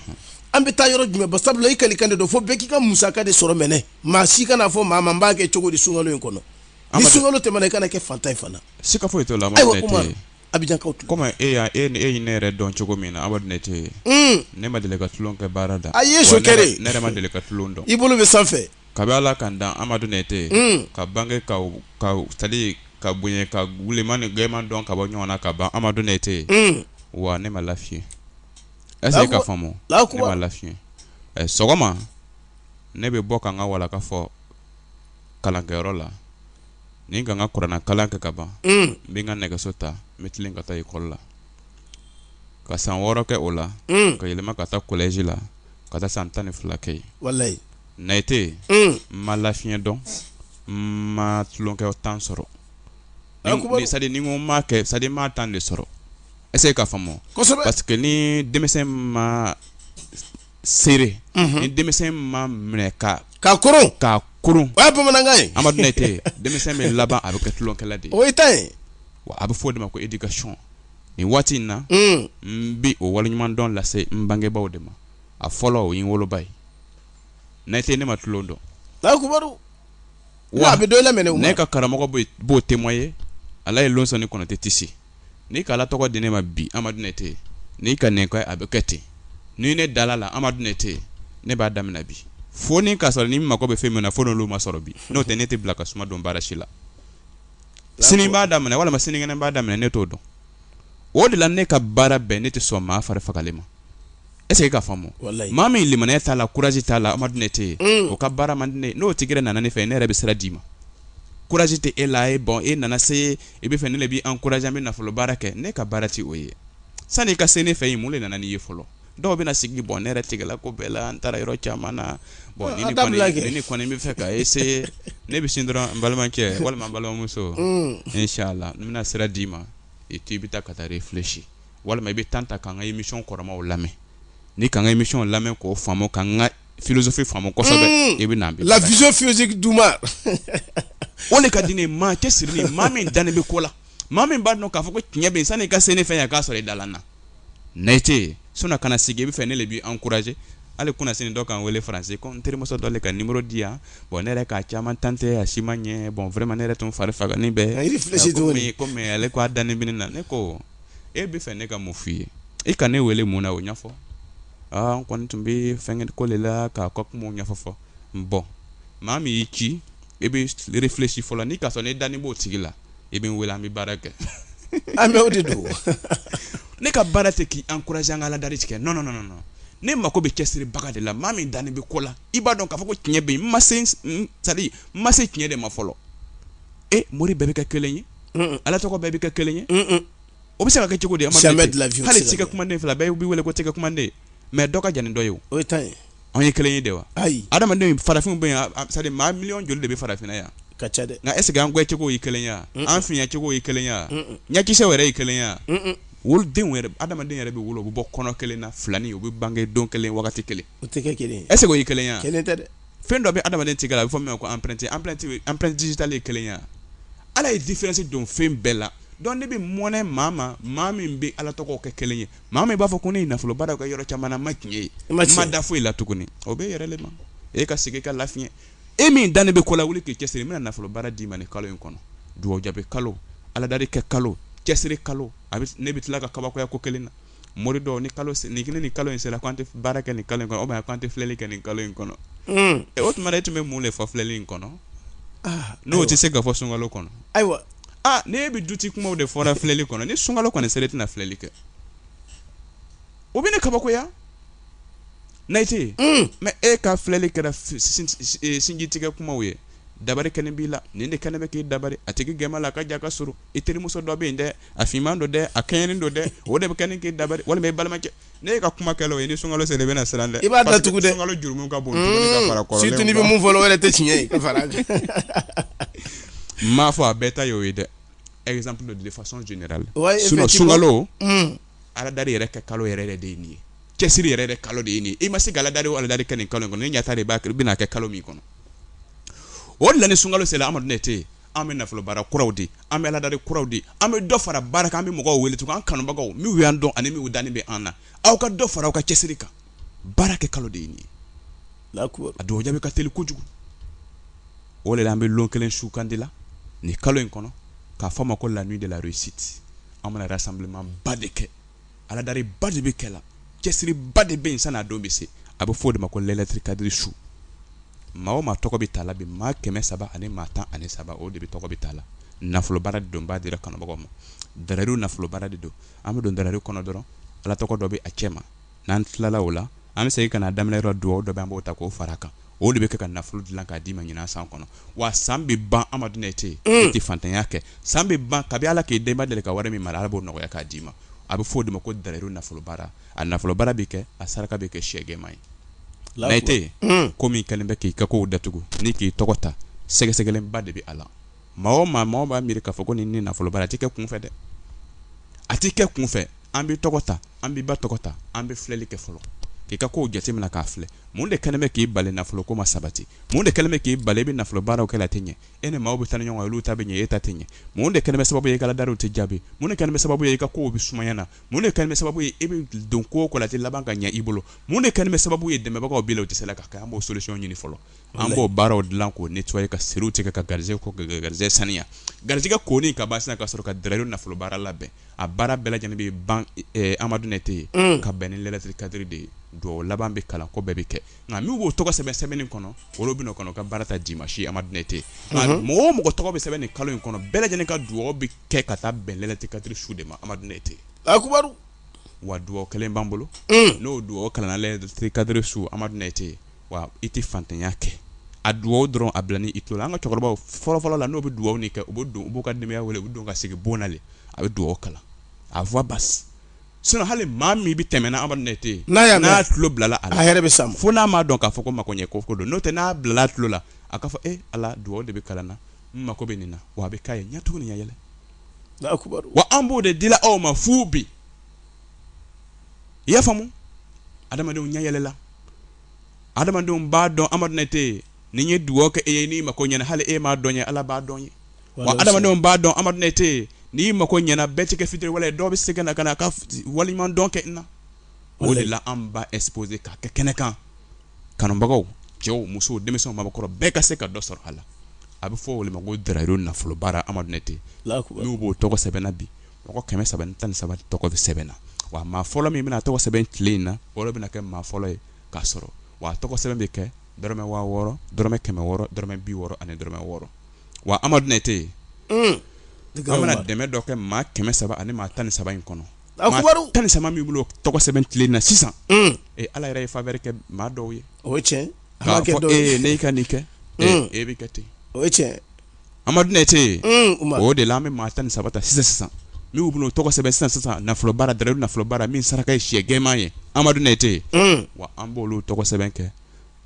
an bɛ taa yɔrɔ jumɛn ba sabula kalikan de don fo bɛɛ k'i ka musaka de sɔrɔ mɛnɛ maa si kan'a fɔ maa n b'a kɛ cogo di sunkalo in kɔnɔ ni sun tɛmɛna i kana kɛ faantan in fana si ka foyi to la a bɛ kɔmi e e e ne yɛrɛ dɔn cogo min na aw ne tɛ ye hmm. ne ma deli ka tulon kɛ baara da a ye so kɛ ne ma deli ka tulon dɔn i bolo bɛ sanfɛ ka bɛ ala ka dan Amadu Nayite hmm. ka bange ka ka tali ka bonya ka wulilima ni gɛnman dɔn ka bɔ ɲɔgɔn na ka ban Amadu Nayite hmm. wa ne ma lafiye est-ce k'a faamu ne ma lafiye sɔgɔma ne bɛ bɔ ka n ka walan ka fɔ kalankɛyɔrɔ la ni ka n ka kurana kalan kɛ ka ban n bɛ n ka nɛgɛso ta n bɛ tilen ka taa ekɔli la ka san wɔɔrɔ kɛ o la ka yɛlɛma ka taa collège la ka taa san tan ni fila kɛ yen walayi nte yen n ma lafiɲɛ dɔn n ma tulonkɛ temps sɔrɔ c'est-à-dire nin ko ma kɛ c'est-à-dire n ma temps de sɔrɔ ɛ k'a faamu parce que ni denmisɛn ma serré ni denmisɛn ma minɛ k'a koron k'a koron o ye bamanankan ye Amadu Nayite denmisɛn bɛ laban a bɛ kɛ tulonkɛla de ye o y'i ta ye wa a bɛ fɔ o de ma ko éducation nin waati in na n bɛ o waleɲumandɔn lase n bangebaaw de ma a fɔlɔ o ye n woloba ye Nayite ne ma tulon dɔn Alahu akibaru wa a bɛ dɔ i la mɛnɛ o ma ne ka karamɔgɔ bɛ b'o témoigner Alaji Losɛni Konate Tisi n'i ka ala tɔgɔ di ne ma bi amadu nete n'i ka nin kɛ a bɛ kɛ ten ni ne dala a la amadu nete ne b'a daminɛ bi fo n' k'a sɔrɔ ne mago bɛ fɛn min na fo n' m'a sɔrɔ bi n'o tɛ ne tɛ bila ka suma dɔn baara si la sini b'a daminɛ walima sinikɛnɛ b'a daminɛ ne t'o dɔn o de la ne ka baara bɛn ne tɛ sɔn maa fari fagalen ma Ese k'a faamu maa min limaniya t'a la kurasi t'a la amadu nete yen o ka baara mande ne n'o tigi nana ne fɛ ne yɛrɛ bɛ sira d'i ma kurasi tɛ e la e bɔn e nana se e b'a fɛ ne b'i ankuraze i bɛ nafolo baara kɛ ne ka baara tɛ o ye sani i ka se ne fɛ ye mun de nana n'i ye fɔlɔ dɔw bɛ na sigi bɔn ne yɛrɛ tigɛla ko bɛɛ la n taara yɔrɔ caman na bɔn ne kɔni b'a fɛ ka eseye ne bɛ sin dɔrɔn balimakɛ walima n balimamuso insala n bɛna sira d'i ma i to i bɛ taa ka taa refilesi walima i bɛ tan ta k'an ka emisiyɔn kɔrɔmaw lamɛn n'i k'an ka emisiyɔn lamɛn k'o faamu k'an ka filosofi faamu kɔsɔ i bɛ lazosi d ma o de ka di ne maa cɛsiri maa min dannen bɛ ko la maa min b'a dɔn k'a fɔ ko tiɲɛ bɛ sani i ka se ne fɛ yan k'a sɔrɔ i dannen tɛ so ka na sigi i b'a fɛ ne de b'i ankuraze hali kunnasini dɔ ka n wele faransi ko n terimuso dɔ le ka nimero di yan bɔn ne yɛrɛ ka caman tante a si ma ɲɛ bɔn vraiment ne yɛrɛ tun fari fagalen bɛ ale k'a dan na ne ko e b'a fɛ ne ka mun f' i ye e ka ne wele mun na o ɲɛfɔ aa n kɔni tun bɛ fɛn ko de la k'a ka kuma ɲɛfɔ fɔ n bɔn maa min y'i ci e bɛ refilesi fɔlɔ n'i k'a sɔrɔ ne dannen b'o tigi la e bɛ n wele an bɛ baara kɛ an bɛ o de don ne ka baara tɛ k'i ankuraze an ka ala dari de kɛ nɔn nɔn ne mako bɛ cɛsiribaga de la maa min dannen bɛ ko la i b'a dɔn k'a fɔ ko tiɲɛ bɛ n m'a sɔrɔ n ma se tiɲɛ de ma fɔlɔ e mori bɛɛ bɛ kɛ kelen ye ala tɔgɔ bɛɛ bɛ kɛ kelen ye o bɛ se ka kɛ cogo di hali tɛgɛkunnaden fila bɛɛ bɛ wele ko tɛgɛkunnaden ye mɛ dɔ ka jan ni dɔ ye o anw ye kelen ye de wa ayi adamaden farafin bɛ yan sa maa miliyɔn joli de bɛ farafinna yan a ka ca dɛ nka ese an kɛcogo ye kelen ye wa an fiɲɛcogo ye kelen ye wa ɲɛkisɛ yɛrɛ ye kelen ye wa wolodenw yɛrɛ adamaden yɛrɛ bɛ wolo u bɛ bɔ kɔnɔ kelen na filanin u bɛ bange don kelen kelen o tɛ kɛ kelen ɛ o ye kelen ye wa kelen tɛ dɛ fɛn dɔ bɛ adamaden tigɛ a bɛ fɔ ko empreinte empreinte empreinte digitale kelen ye wa ala ye diferansi don fɛn bɛɛ la dɔnk ne bɛ mɔnɛ maa ma maa min bɛ ala tɔgɔ kɛ kelen ye maa min b'a fɔ ko ne nafolo baara kɛ yɔrɔ caman n ma tiɲɛ ye e ma ma da foyi la tuguni o b'i yɛrɛ ma e ka segin k'i lafiɲɛ e min dannen bɛ ko la wuli k'i cɛsiri n bɛna nafolo baara d'i ma ni kalo in kɔnɔ dugawu jaabi kalo aladari kɛ kalo cɛsiri kalo ne bɛ tila ka kabakoya ko kelen na mori dɔw ni kalo ni kelen ni kalo in sera an tɛ baara kɛ ni kalo kɔnɔ bɛ an tɛ filɛli kɛ ni kalo in kɔnɔ o tuma e tun bɛ mun de fɔ filɛli in kɔnɔ n'o tɛ se ka fɔ sunkalo kɔnɔ ayiwa ni e bɛ du ci kumaw de fɔla filɛli kɔnɔ ni sunkalo kɔni sera i tɛna filɛli kɛ o bɛ ne kabakoya nete mɛ e ka filɛli kɛra sinji tigɛ kumaw ye dabari kɛnen b'i la nin de kɛnen bɛ k'i dabari a tigi gɛman la a ka jan ka surun i terimuso dɔ bɛ yen dɛ a finman don dɛ a kɛɲɛnen don dɛ o de bɛ kɛ ni k'i dabali walima i balimakɛ ne ye ka kuma kɛ o ye ni sunkalo sera i bɛna siran dɛ i b'a datugu dɛ sunkalo jurumu ka bon dumuni ka fara kɔrɔlenw surtout n'i bɛ min fɔ o yɛrɛ tɛ tiɲɛ ye n m'a fɔ a bɛɛ ta y'o ye dɛ exemple de façon générale sinon sunkalo hmm. aladari yɛrɛ kɛ kalo yɛrɛ de ye nin ye cɛsiri yɛrɛ de kalo de ye nin ye i ma se ka aladari o aladari kɛ nin kalo in kɔnɔ ni ɲata de b'a kɛ i bɛna kɛ kalo min kɔnɔ o de la ni sunkalo sera Amadu Nɛte an bɛ nafolo baara kuraw di an bɛ aladari kuraw di an bɛ dɔ fara baara kan an bɛ mɔgɔw wele tun an kanubagaw minnu y'an dɔn ani minnu dannen bɛ an na aw ka dɔ fara aw ka cɛsiri kan baara kɛ kalo de ye nin ye a dugawu jaabi ka teli kojugu o de la an bɛ lon kelen sugandi la nin kalo in kɔnɔ k'a fɔ o ma ko la nuit de la réussite an bɛna rassemblement ba de kɛ aladariba de bɛ kɛ la cɛsiriba de bɛ sen na don bɛ se a bɛ fɔ o de ma ko layilatu kadiri su maa o maa tɔgɔ bɛ ta la bi maa kɛmɛ saba ani maa tan ani saba o de bɛɛ tɔgɔ bɛ ta la nafolo baara de don an b'a di an kanubagaw ma dalayilu nafolo baara de don an bɛ don dalayilu kɔnɔ dɔrɔn ala tɔgɔ dɔ bɛ a cɛ ma n'an tilala o la an bɛ segin ka na daminɛ yɔrɔ dugawu dɔ bɛ an b'o ta k'o fara kan o de bɛ kɛ ka nafolo dilan k'a d'i ma ɲinan san kɔnɔ wa san bɛ ban an ma dun e tɛ yen e tɛ faantanya kɛ san bɛ ban kabi ala k'i dan i ma deli ka wari min mara ala b'o nɔgɔya k'a d'i ma a bɛ fɔ o de ma ko dalayilu nafolo baara a nafolo baara bɛ kɛ a saraka bɛ kɛ sɛgɛma ye la e tɛ yen ko min kɛlen bɛ k'i ka kow datugu ni k'i tɔgɔ ta sɛgɛsɛgɛliba de bɛ a la maa o maa maaw b'a miiri k'a fɔ ko nin ni nafolo baara a tɛ kɛ kunfɛ dɛ a tɛ kɛ kunfɛ an bɛ tɔgɔ ta an bɛ ba tɔgɔ ta an bɛ filɛli kɛ fɔlɔ k'i ka kow jateminɛ k'a filɛ mun de kɛlen bɛ k'i bali nafoloko ma sabati mun de kɛlen bɛ k'i bali i bɛ nafolo baaraw kɛ la a tɛ ɲɛ e ni maaw bɛ taa ni ɲɔgɔn ye olu ta bɛ ɲɛ e ta tɛ ɲɛ mun de kɛlen bɛ sababu ye i ka aladariw tɛ jaabi mun de kɛlen bɛ sababu ye i ka kow bɛ sumaya na mun de kɛlen bɛ sababu ye e bɛ don ko o ko la a tɛ laban ka ɲɛ i bolo mun de kɛlen bɛ sababu ye dɛmɛbagaw b'i la u tɛ se la k'a kɛ an b'o solution ɲini fɔlɔ an b'o baaraw dilan k'o nettoyer ka siriw tigɛ ka gari ko garisɛgɛ saniya garijɛgɛ kɔni ka ban ka sɔrɔ ka dalayilu nafolo baara labɛn a baara bɛɛ lajɛlen bɛ ban amadu ne tɛ yen ka bɛn ni layilatu kadiri de ye don laban bɛ kalan kɔ bɛɛ bɛ kɛ nka n'u b'o tɔgɔ sɛbɛn sɛbɛnnen kɔnɔ olu bɛ kɔnɔ ka baara ta d'i ma si amadu ne tɛ yen mɔgɔ o mɔgɔ tɔgɔ bɛ sɛbɛn nin kalo in kɔnɔ bɛɛ lajɛlen ka dugawu bɛ kɛ ka taa bɛn layilatu kadiri su de ma amadu ne tɛ yen wa dugawu kelen b'an bolo n'o dugawu kalan kadiri su amadu ne tɛ yen wa i tɛ faantanya kɛ a dugawu dɔrɔn a bilalen i tulo an ka cɛkɔrɔba fɔlɔfɔlɔ la n'u bɛ dugawu nin kɛ u bɛ don u b'u ka denbaya wele u bɛ don ka sigi bon na le a bɛ dugawu kalan a fɔ basi sin hali maa min bɛ tɛmɛna an ne tɛ yen n'a y'a n'a tulo bilala a yɛrɛ bɛ sa fo n'a m'a dɔn k'a fɔ ko makoɲɛ ko ko don n'o tɛ n'a bilala tulo la a k'a fɔ e ala dugawu de bɛ kalan na n mako bɛ nin na wa a bɛ ka ye ɲɛ tugulen yɛlɛ wa an b'o de dilan aw ma fu bi i y'a faamumu adamadenw ɲɛ yɛlɛla adamadenw b'a dɔn amadu nayite ni n ye dugawu kɛ e ye n'i mako ɲɛna hali e m'a dɔn n ye ala b'a dɔn n ye wa adamadenw b'a dɔn amadu nayite n'i mako ɲɛna bɛɛ tɛ kɛ fitiriwale ye dɔw bɛ se ka na ka na a ka waleɲumandɔn kɛ n na o de la an b'a exposé k'a kɛ kɛnɛ kan kanubagaw cɛw musow denmisɛnw maakɔrɔ bɛɛ ka se ka dɔ sɔrɔ a la a bɛ fɔ o ma ko dayi nafolobaara amadu nayite minnu b'u tɔgɔ sɛbɛn na bi mɔgɔ kɛmɛ saba ni tan ni saba tɔgɔ bɛ sɛbɛn na wa maa fɔlɔ min bɛna tɔgɔ sɛbɛn tile in na o bɛna kɛ maa fɔlɔ ye k'a sɔrɔ wa tɔgɔ sɛbɛn bɛ kɛ dɔrɔmɛ waa wɔɔrɔ dɔrɔmɛ kɛmɛ wɔɔrɔ dɔrɔmɛ bi wɔɔrɔ ani dɔrɔmɛ wɔɔrɔ wa amadu nayite an bɛna dɛmɛ dɔ kɛ maa kɛmɛ saba ani maa tan ni saba in kɔnɔ tan ni saba minnu b'u tɔgɔ sɛbɛn tile na sisan ee ala yɛrɛ ye faveur kɛ maa dɔw ye o cɛ e ka nin kɛ e bɛ kɛ ten o cɛ Amadu nayite o de la an bɛ maa tan ni saba ta sisan sisan minnu b'u tɔgɔ sɛbɛn sisan sisan nafolo bara da nafolo bara min saraka ye shɛ gɛman ye amadu nayite wa an b' tɔgɔ sɛbɛn kɛ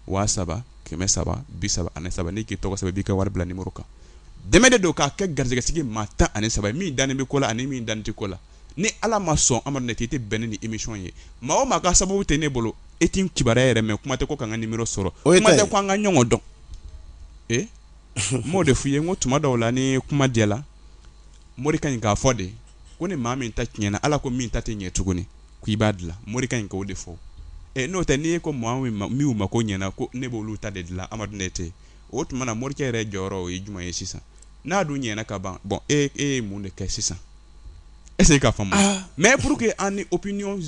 waa saba kɛmɛ saba bi saba ani saba n'i k'i tɔgɔ sɛbɛn i b'i ka wari bila nimɔrɔ kan dɛmɛ de don k'a kɛ garisɛgɛsigi maa tan ani saba min dalen bɛ ko la ani min dalen tɛ ko la ni ala ma sɔn amadu nayite i tɛ bɛn ni nin émission ye maa maa ka sababu tɛ ne bolo e tɛ ne kibaruya yɛrɛ mɛn kuma tɛ ko ka ka ni sɔrɔ o ko an ka ɲɔgɔn dɔn n b'o de f'u ye ko tuma dɔw la ni kuma diyala mori kan k'a fɔ dɛ ko ni maa min ta tiɲɛna ala ko min ta tɛ ɲɛ tuguni k'i b'a dilan mori kan k'o de fɔ n'o tɛ n'i ye ko maa min mako ɲɛna ko ne b'olu ta de dilan amadu nayite o tuma na morikɛ yɛrɛ jɔyɔrɔ o ye jumɛn ye sisan n'a dun ɲɛna ka ban bon e e ye mun de kɛ sisan est-ce k'a faamu mais pour que an ni opinion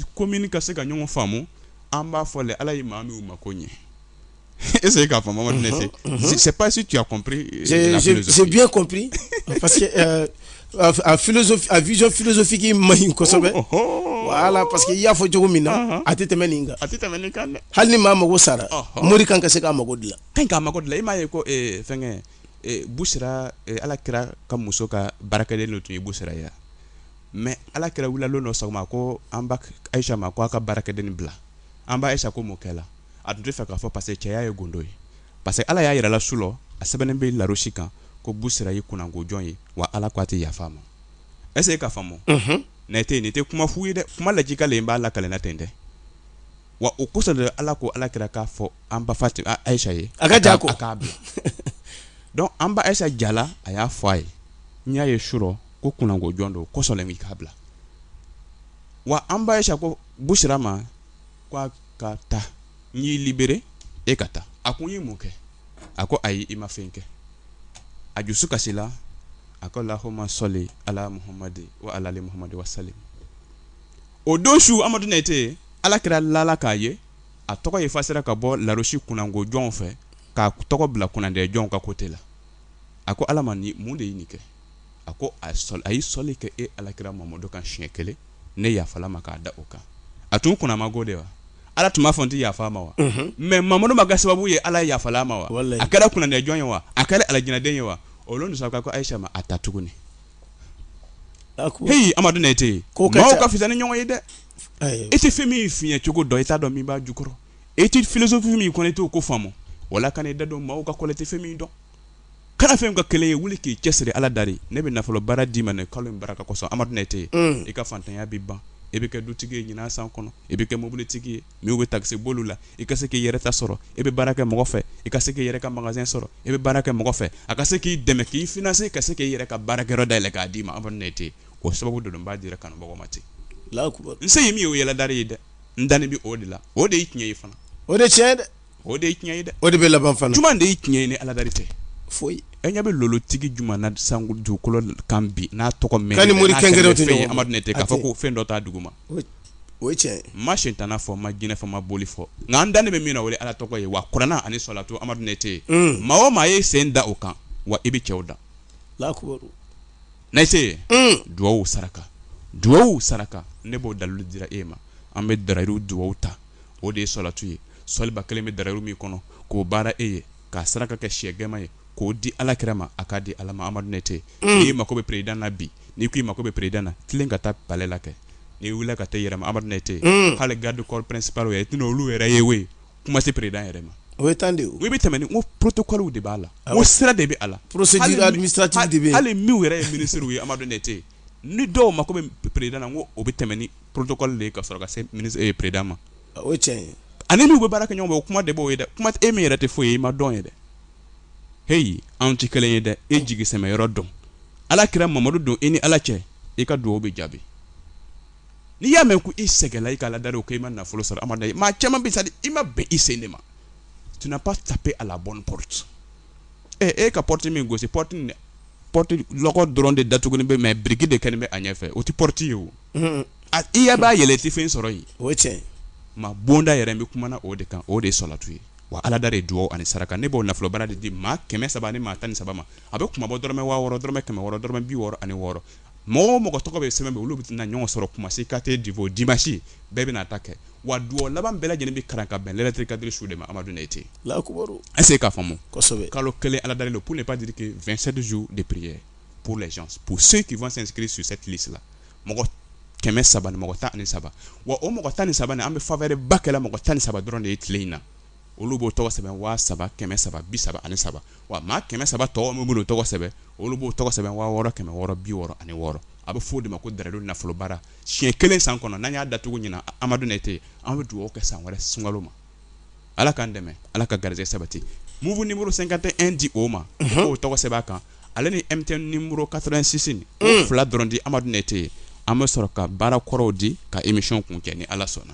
ka se ka ɲɔgɔn faamu an b'a fɔ ala ye maa min mako ɲɛ est-ce k'a faamu Amadu Nayite mhm, mhm. sais pas si tu as compris euh, la philosophie j'ai bien compris parce que euh, a philosophie a vision philosophique man ɲi kosɛbɛ oh, oh, oh. voilà parce que i y'a fɔ cogo min na uh-huh. a tɛ tɛmɛ nin kan a tɛ tɛmɛ nin kan dɛ hali ni maa mago sara uh-huh. mori kan ka se k'a mago dilan kan k'a mago dilan i m'a ye ko eh, fɛnkɛ eh, busira eh, ala kira ka muso ka baarakɛden dɔ tun ye busira ye mais ala kira wulila don dɔ sɔgɔma ko an ba ayisa ma ko a ka baarakɛden bila an ba ayisa ko mun kɛla a tun tɛ fɛ k'a fɔ parce que cɛya ye gundo ye parce que ala y'a yira a la su rɔ a sɛbɛnnen bɛ larosi kan ko busira ye kunnango jɔn ye wa ala ko a tɛ yafa a ma est-ce e k'a faamu nayite nin tɛ kuma fu ye dɛ kuma lakika le n b'a lakali la ten dɛ wa o kosɔn de ala ko ala kira k'a fɔ an ba fa ayisa ye a ka ja ko k'a bila dɔrɔn an ba ayisa jala a y'a fɔ a ye n y'a ye su rɔ ko kunnango jɔn don o kosɔn k'a bila wa an ba ayisa ko busira ma Ko a ka taa n y'i libéré e ka taa a ko n ye mun kɛ a ko ayi i ma fɛn kɛ a dusu kasila a ko lahuma sɔli ala muhamadi wa alali muhamadi wa salim o don su amadu nete ala kira lala k'a ye a tɔgɔ efasera ka bɔ larosi kunnango jɔnw fɛ k'a tɔgɔ bila kunnandi jɔnw ka côté la a ko ala ma ni mun de ye nin kɛ a ko a a ye sɔli kɛ e alakira mamadu kan siɲɛ kelen ne yafala a ma k'a da o kan a tun kunna man go de wa ala tun b'a fɔ n tɛ yafa a ma wa mɛ mamadu ma ka sababu ye ala yafala a ma wa a kɛra kunnajɔ ye wa a kɛra alijinɛden ye wa o sɔrɔ ko ayisa ma a ta tuguni h amadu nete ko ka fisa ni ɲɔgɔn ye dɛ e tɛ fɛn min fiɲɛ cogo dɔn i t'a dɔn min b'a jukɔrɔ e tɛ finiso fini min kɔn e t'o ko faamumu wala ka ne da don maaw ka kɔlɛ tɛ fɛn min dɔn Kana fɛn ka kelen ye wuli k'i cɛ siri ala dari ne bɛ nafolo baara d'i ma kalo in baara k'a sɔn amadu nete i ka faantanya bɛ ban i bɛ kɛ dutigi ye ɲinan san kɔnɔ i bɛ kɛ mobilitigi ye n'i bɛ takisiboli la i ka se k'i yɛrɛ ta sɔrɔ i bɛ baara kɛ mɔgɔ fɛ i ka se k' yɛrɛ ka magazɛn sɔrɔ i bɛ baara kɛ mɔgɔ fɛ a ka se k'i dɛmɛ k'i fana ka se k'i yɛrɛ ka baarakɛyɔrɔ da yɛlɛ k'a d'i ma ne tɛ o sababu don b'a jira kanu mɔgɔ ma ten n se ye min ye o ye ala dari ye dɛ n dan bɛ o de la o de y ye tiɲɛ ye fana o de cɛ dɛ o de ye tiɲɛ ye dɛ o de bɛ laban fana jumɛn de ye tiɲɛ ye ni ala dari tɛ o ye e ɲɛ bɛ lolotigi jumɛn na san dugukolo kan bi n'a tɔgɔ mɛ ni morikɛ tɛ amadu nete k'a fɔ ko fɛn dɔ t' dugu ma o cɛ n ma sitanɛ fɔ n ma jinɛ fɔ n ma boli fɔ nka an dannen bɛ min na o ye ala tɔgɔ ye wa kuranɛ ani sɔlatu amadu nete maa o maa ye sen da o kan wa i bɛ cɛw da la nase ye dugaw saraka dugaw saraka ne b'o dalilu jira e ma an bɛ darayiru dugaw ta o de ye sɔlatu ye sɔli ba kelen bɛ darayiru min kɔnɔ k'o baara e ye k'a saraka kɛ syɛ jɛma ye k'o di ala kira ma a k'a di ala ma amadu nete n'i mako bɛ président na bi n'i ko i mako bɛ président na tilen ka taa palais la kɛ n'i wulila ka taa a yɛrɛ ma amadu nete hali garde corps principal i t'olu yɛrɛ ye ye kuma tɛ président yɛrɛ ma o ye tan de u bɛ tɛmɛ ko protocole de b'a la o sira de bɛ a la porosi de bɛ hali min yɛrɛ ye minisiri ye amadu nete ni dɔw mako bɛ président na ko o bɛ tɛmɛ ni protocole de ka sɔrɔ ka se président ma o cɛ ani n' bɛ baara kɛ ɲɔgɔn o kuma de b'o ye dɛ kuma e min yɛrɛ tɛ foyi ye i ma dɔn ye dɛ heyi an tɛ kelen ye dɛ e jigisɛmɛyɔrɔ dɔn ala kira mamadu don e ni ala cɛ i ka dugawu bɛ jaabi n'i y'a mɛn ko i sɛgɛnla i ka ala dari kan i ma nafolo sɔrɔ a ye maa caman bisa i ma bɛn i sen de ma tu n'as pas tapé à la bonne porte ɛ e ka porte min gosi porte dɛ porte dɔrɔn de datugunin bɛ mɛ biriki de kɛlen bɛ a ɲɛfɛ o tɛ porte ye o a i yaa b'a yɛlɛ tɛ fɛn sɔrɔ yen o cɛ maa bonda yɛrɛ bɛ kuma o de kan o de ye sɔlatu ye wa ala dari dugawu ani saraka ne b'o nafolo baara de di maa kɛmɛ saba ni maa tan ni saba ma a bɛ kuma bɔ dɔrɔmɛ waa wɔɔrɔ dɔrɔmɛ kɛmɛ wɔɔrɔ dɔrɔmɛ bi wɔɔrɔ ani wɔɔrɔ mɔgɔ o mɔgɔ tɔgɔ bɛ sɛbɛn olu bɛ na ɲɔgɔn sɔrɔ kumasi quartier divo dimasi bɛɛ bɛna ta kɛ wa dugawu laban bɛɛ lajɛlen bɛ kalan ka bɛn layilatu kadiri su de ma amadu ne ten a se k'a faamu kalo kelen aladeli don pour ne pas dire que vingt-sept jours de prière pour les gens pour ceux qui vont s'inscrire sur cette liste la mɔgɔ kɛmɛ saba ni mɔgɔ tan ni saba wa o mɔgɔ tan ni saba an bɛ faveur ba kɛ la mɔgɔ tan ni saba dɔrɔn de ye tile in na olu b'o tɔgɔ sɛbɛn waa saba kɛmɛ saba bi saba ani saba wa maa kɛmɛ saba tɔgɔ min bolo tɔgɔ sɛbɛn olu b'o tɔgɔ sɛbɛn waa wɔɔrɔ kɛmɛ wɔɔrɔ bi wɔɔrɔ ani wɔɔrɔ a bɛ fɔ de ma ko dalilu nafolobara siɲɛ kelen san kɔnɔ n'an y'a datugu ɲinan amadu ne tɛ an bɛ dugawu kɛ san wɛrɛ sunkalo ma ala k'an dɛmɛ ala ka garijɛ sabati mugu nimɔrɔ senka tɛ e di o ma o tɔgɔ sɛbɛn kan ale ni e tɛ nimɔrɔ kasisin fila dɔrɔn di amadu ne tɛ yen an bɛ sɔrɔ ka baara kɔrɔw di ka émission kuncɛ ni ala sɔnna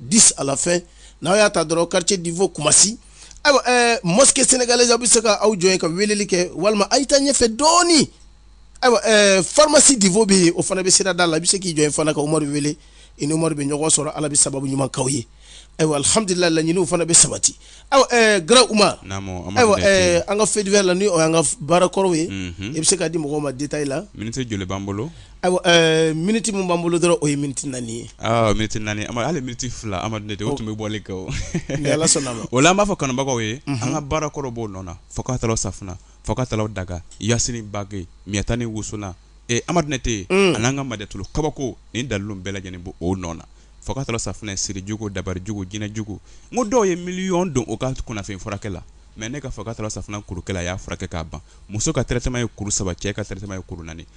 10 à la fin n'aw y'a ta dɔrɔn quartier divo kumasi ayiwa ɛɛ mosquée sénégalaise aw bɛ se ka aw jɔ yen ka weleli kɛ walima a' ye taa ɲɛfɛ dɔɔni ayiwa ɛɛ pharmacie divo bɛ yen o fana bɛ sirada la i bɛ se k'i jɔ yen fana ka umaru wele i ni umaru bɛ ɲɔgɔn sɔrɔ ala bɛ sababu ɲuman k'aw ye ayiwa alhamdulilayi laɲiniw fana bɛ sabati ayiwa ɛɛ kara umaru ayiwa ɛɛ an ka fait divers la ni o y'an ka baarakɔrɔw ye i bɛ se k'a di mɔgɔw ma detail la miniti joli b'an bolo Ayiwa ɛɛ minute min b'an bolo dɔrɔn o ye minute naani ye. Awɔ minute naani Amadu hali minute fila Amadu ne tɛ o tun bɛ bɔli kɛ o. Ni Ala sɔnna a ma. O la an b'a fɔ kanubagaw ye. Unhun. An ka baara kɔrɔ b'o nɔ na fo k'a tɔlɔ safunɛ fo k'a tɔlɔ daga Yasini bague Miata ni wusulan ee Amadu ne tɛ. Un! A n'an ka Madetulu kabako nin dalilu bɛɛ lajɛlen b'o o nɔ na fo k'a tɔlɔ safunɛ siri jugu dabari jugu jinɛ jugu n ko dɔw ye miliyɔn don o ka kunnafoni furakɛ la mais ne ka fo k'a tɔlɔ safunɛ kuru kelen a y'a furakɛ k'a ban muso ka traitement ye kuru saba cɛ ka traitement ye kuru naani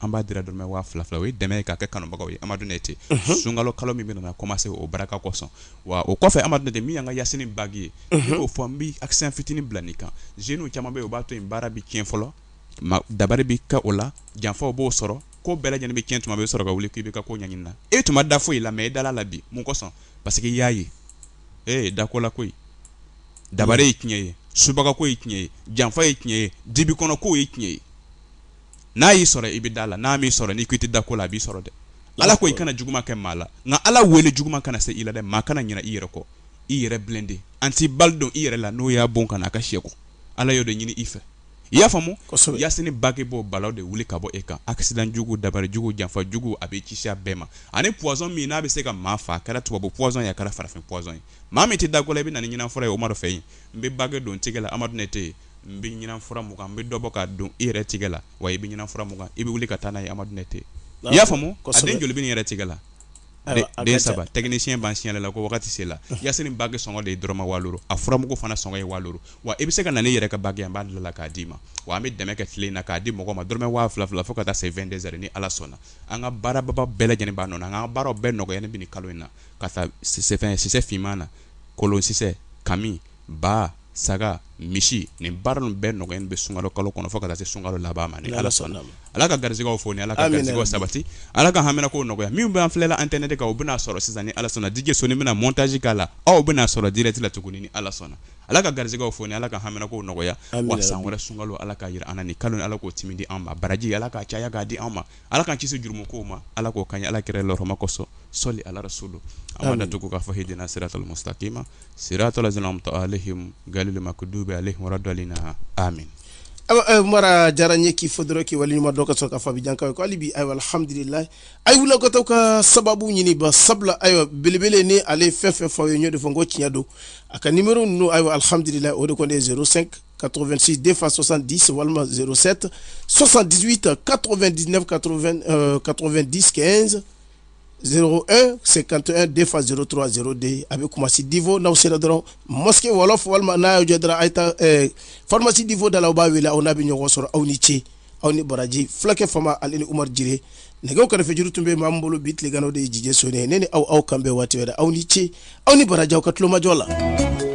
an b'a dira dɔrɔmɛ waa fila fila o ye dɛmɛ ye k'a kɛ kanubagaw ye amadu ne ten sunkalo kalo min bɛna commencer o barika kosɔn wa o kɔfɛ amadu de min y'an ka yasini bague ye y'o fɔ n bɛ accent fitinin bila nin kan jeunes caman bɛ o b'a to in baara bɛ tiɲɛ fɔlɔ dabali bɛ kɛ o la janfa b'o sɔrɔ ko bɛɛ lajɛlen bɛ cɛn tuma bɛ sɔrɔ ka wuli k'i bɛ ka ko ɲɛ na e tun da foyi la mais e da la bi mun kosɔn parce que y'a ye e da ko la koyi dabali ye tiɲɛ ye subagako ye tiɲɛ ye janfa ye tiɲɛ ye dibi kɔnɔ ko ye tiɲɛ ye n'a y'i sɔrɔ i bɛ da a la n'a m'i sɔrɔ n'i ko i tɛ da ko la a b'i sɔrɔ dɛ ala ko i kana juguman kɛ maa la nka ala wele juguman kana se i la dɛ maa kana ɲinɛ i yɛrɛ kɔ i yɛrɛ blindé anti-balle don i yɛrɛ la n'o y'a bon kana a ka seko ala y'o de ɲini i fɛ i y'a faamu yasini bague bɛ balawu de wuli ka bɔ e kan accident jugu dabali jugu janfa jugu a b'i kisi a bɛɛ ma ani pɔsɔn min n'a bɛ se ka maa faa a kɛra tubabu pɔsɔn ye a kɛra farafin pɔsɔn ye maa min tɛ da ko i bɛ na ɲinin fɔlɔ ye umaru fɛ yen n bɛ bague don tɛgɛ la amadu ne tɛ yen n bɛ ɲinan fura mun kan n bɛ dɔ bɔ k'a don i yɛrɛ tigɛ la wa i bɛ ɲinan fura mun kan i bɛ wuli ka taa n'a ye Amadu Nɛte i y'a faamu a den joli bɛ ne yɛrɛ tigɛ la den saba technicien b'an signaler la ko wagati sela Yasini bague sɔngɔ de ye dɔrɔmɛ waa duuru a furamugu fana sɔngɔ ye waa duuru wa i bɛ se ka na n'i yɛrɛ ka bague ye an b'a dilan la k'a d'i ma wa an bɛ dɛmɛ kɛ tile in na k'a di mɔgɔ ma dɔrɔmɛ waa fila fila fo ka taa se 22 heures ni Ala sɔnna an ka baara ba ba bɛɛ lajɛlen b'a nɔ na an ka baaraw bɛɛ nɔgɔyalen bɛ nin kalo in na k'a ta sisɛ fin sisɛ finman na kolon sisɛ kami ba saga misi nin baara ninnu bɛɛ nɔgɔyalen bɛ sunkalo kalo kɔnɔ fo ka se sunkalo laban ma ni ala sɔnna ala ka garijɛgɛ foni ala ka garijɛgɛ sabati ala ka haminanko nɔgɔya min bɛ an filɛ ɛntɛrinɛti kan u bɛn'a sɔrɔ sisan ni ala sɔnna DJ sɔnni bɛna mɔntaji k'a la aw bɛn'a sɔrɔ dirɛkiti la tuguni ni ala sɔnna ala ka garijɛgɛ foni ala ka haminanko nɔgɔya wa san wɛrɛ sunkalo ala k'a jira an ni kalo ala k'o timi di an ma baraji ala k'a caya k'a di an ma ala k'an kisi jurumu ko ma ala k'o kɛ ala kira lama kosɔn sɔli ala so don an ka da to k'a fɔ h sira sa ma sira tɔla sinamuto ale gama ko du bɛ ale dɔ in na a min mara diyara n ye k'i fo dɔrɔn k'i waleɲuman dɔn ka sɔrɔ ka jaabi janka ko'ale bi alihamdulila a wuli ka taa ka sababu ɲini ba sabula ayiwa belebele ni ale fɛn fɛn fɔ ye n y'o de fɔ ko tiɲɛ don a ka nimɔrɔ ninnu ayiwa alihamdulila o de kɔni ye 05 86 2 fois 70 walima 07 78 89 90 15 01 51 2 fois 03 02 a bɛ kumasi divo n'aw sera dɔrɔn mosquée wɔlɔfɔ walima n'a y'o jɔ dɔrɔn a ye taa faramasi divo da la aw b'a wele aw n'a bɛ ɲɔgɔn sɔrɔ aw ni ce aw ni baraji fulakɛ fama ani ni umaru jire nɛgɛ karafejuru tun bɛ min bolo bi tilegan na o de ye DJ sɔnni ye ne ni aw aw k'an bɛn waati wɛrɛ aw ni ce aw ni baraji aw ka tulomajɔ la